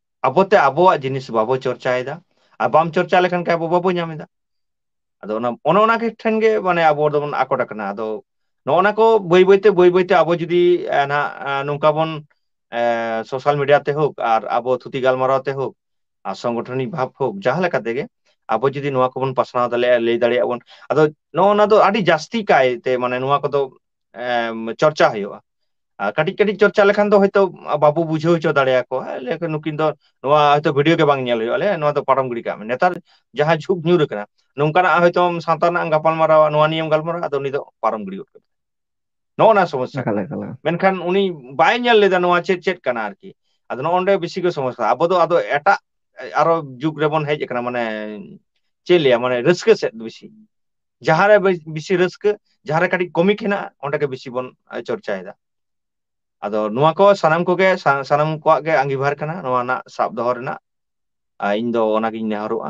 ᱟᱵᱚᱛᱮ ᱟᱵᱚᱣᱟᱜ ᱡᱤᱱᱤᱥ ᱵᱟᱵᱚ ᱪᱚᱨᱪᱟᱭᱮᱫᱟ ᱟᱨ ᱵᱟᱢ ᱪᱚᱨᱪᱟ ᱞᱮᱠᱷᱟᱱ ᱟᱵᱚ ᱵᱟᱵᱚ ᱧᱟᱢ ᱮᱫᱟ ᱟᱫᱚ ᱚᱱᱟ ᱚᱱᱮ ᱚᱱᱟ ᱜᱮ ᱴᱷᱮᱱ ᱜᱮ ᱢᱟᱱᱮ ᱟᱵᱚ ᱫᱚᱵᱚᱱ ᱟᱠᱚᱴ ᱟᱠᱟᱱᱟ ᱟᱫᱚ ᱱᱚᱜᱼᱚ ᱱᱟ ᱠᱚ ᱵᱟᱹᱭ ᱵᱟᱹᱭᱛᱮ ᱵᱟᱹᱭ ᱵᱟᱹᱭᱛᱮ ᱟᱵᱚ ᱡᱩᱫᱤ ᱱᱟᱦᱟᱜ ᱱᱚᱝᱠᱟ ᱵᱚᱱ ᱮᱸ ᱥᱳᱥᱟᱞ ᱢᱤᱰᱤᱭᱟ ᱛᱮ ᱦᱳᱠ ᱟᱨ ᱟᱵᱚ ᱛᱷᱩᱛᱤ ᱜᱟᱞᱢᱟᱨᱟᱣ ᱛᱮ ᱦᱳᱠ ᱟᱨ ᱥᱚᱝᱜᱚᱴᱷᱚᱱᱤᱠ ᱵᱷᱟᱵᱽ ᱦᱳᱠ ᱡᱟᱦᱟᱸ ᱞᱮᱠᱟ ᱛᱮᱜᱮ ᱟᱵᱚ ᱡᱩᱫᱤ ᱱᱚᱣᱟ ᱠᱚᱵᱚᱱ ᱯᱟᱥᱱᱟᱣ ᱫᱟᱲᱮᱭᱟᱜᱼᱟ ᱞᱟᱹᱭ ᱫᱟᱲᱮᱭᱟᱜᱼᱟ ᱵᱚᱱ ᱟᱫᱚ ᱱᱚᱜᱼᱚ ᱱᱚᱣᱟ ᱫᱚ ᱟᱹᱰᱤ ᱡᱟᱹᱥᱛᱤ ᱠᱟᱭᱛᱮ ᱢᱟᱱᱮ ᱱᱚᱣᱟ ᱠᱚᱫᱚ ᱪᱚᱨᱪᱟ ᱦᱩᱭᱩᱜᱼᱟ ᱟᱨ ᱠᱟᱹᱴᱤᱡ ᱠᱟᱹᱴᱤᱡ ᱪᱚᱨᱪᱟ ᱞᱮᱠᱷᱟᱱ ᱫᱚ ᱦᱳᱭᱛᱳ ᱵᱟᱵᱚ ᱵᱩᱡᱷᱟᱹᱣ ᱦᱚᱪᱚ ᱫᱟᱲᱮᱭᱟᱠᱚᱣᱟ ᱞᱟᱹᱭᱟᱠᱚ ᱱᱩᱠᱤᱱ ᱫᱚ ᱱᱚᱣᱟ ᱦᱚᱭᱛᱳ ᱵᱷᱤᱰᱭᱳ ᱜᱮ ᱵᱟᱝ ᱧᱮᱞ ᱦᱩᱭᱩᱜᱼᱟ ᱟᱞᱮᱭᱟᱜ ᱱᱚᱣᱟ ᱫᱚ ᱯᱟᱨᱚᱢ ᱜᱤᱰᱤ ᱠᱟᱜ ᱢᱮ ᱱᱮᱛᱟᱨ ᱡᱟᱦᱟᱸ ᱡᱷᱩᱜᱽ ᱧᱩᱨ ᱟᱠᱟᱱᱟ ᱱᱚᱝᱠᱟᱱᱟᱜ ᱦᱚᱭᱛᱳ ᱥᱟᱶᱛᱟ ᱨᱮᱱᱟᱜ ᱮᱢ ᱜᱟᱯᱟᱞᱢᱟᱨᱟᱣᱟ ᱱᱚᱣᱟ ᱱᱤᱭᱟᱹᱢ ᱜᱟᱞᱢᱟᱨᱟᱣᱟ ᱟᱫᱚ ᱩᱱᱤ ᱫᱚ ᱯᱟᱨᱚᱢ ᱜᱤᱰᱤ ᱜᱚᱫ ᱠᱟᱛᱟᱢᱟ ᱱᱚᱜᱼᱚ ᱱᱚᱣᱟ ᱥᱚᱢᱚᱥᱥᱟ ᱮᱠᱟᱞ ᱠᱟᱱᱟ ᱮᱠᱟᱞ ᱢᱮᱱᱠᱷᱟᱱ ᱩᱱᱤ ᱵᱟᱭ ᱧᱮᱞ ᱞᱮᱫᱟ ᱱᱚᱣᱟ ᱪᱮᱫ ᱪᱮᱫ ᱠᱟᱱᱟ ᱟᱨᱠᱤ ᱟᱫᱚ ᱱᱚᱜᱼᱚ ᱱᱚᱰᱮ ᱵᱮᱥᱤ ᱠᱚ ᱥᱚᱢᱚᱥᱥᱟ ᱟᱵᱚ ᱫᱚ ᱟᱫᱚ ᱮᱴᱟᱜ ᱟᱨᱚ ᱡᱩᱜᱽ ᱨᱮᱵᱚᱱ ᱦᱮᱡ ᱟᱠᱟᱱᱟ ᱢᱟᱱᱮ ᱪᱮᱫ ᱞᱟᱹᱭᱟ ᱢᱟᱱᱮ ᱨᱟᱹᱥᱠᱟᱹ ᱥᱮᱫ ᱵᱮᱥᱤ ᱡᱟᱦᱟᱸᱨᱮ ᱵᱮᱥᱤ ᱨᱟᱹᱥᱠᱟᱹ ᱡᱟᱦᱟᱸᱨᱮ ᱠᱟᱹᱴᱤᱡ ᱠᱚᱢᱤᱠ ᱦᱮᱱᱟᱜᱼᱟ ᱚᱸᱰᱮ ᱜᱮ ᱵᱮᱥᱤ ᱵᱚᱱ ᱪᱚᱨᱪᱟᱭᱮᱫᱟ ᱟᱫᱚ ᱱᱚᱣᱟ ᱠᱚ ᱥᱟᱱᱟᱢ ᱠᱚᱜᱮ ᱥᱟᱱᱟᱢ ᱠᱚᱣᱟᱜ ᱜᱮ ᱟᱸᱜᱤᱵᱷᱟᱨ ᱠᱟᱱᱟ ᱱᱚᱣᱟ ᱨᱮᱱᱟᱜ ᱥᱟᱵ ᱫᱚᱦᱚ ᱨᱮᱱᱟᱜ ᱟᱨ ᱤᱧ ᱫᱚ ᱚᱱᱟᱜᱤᱧ ᱱᱮᱦᱚᱨᱚᱜᱼᱟ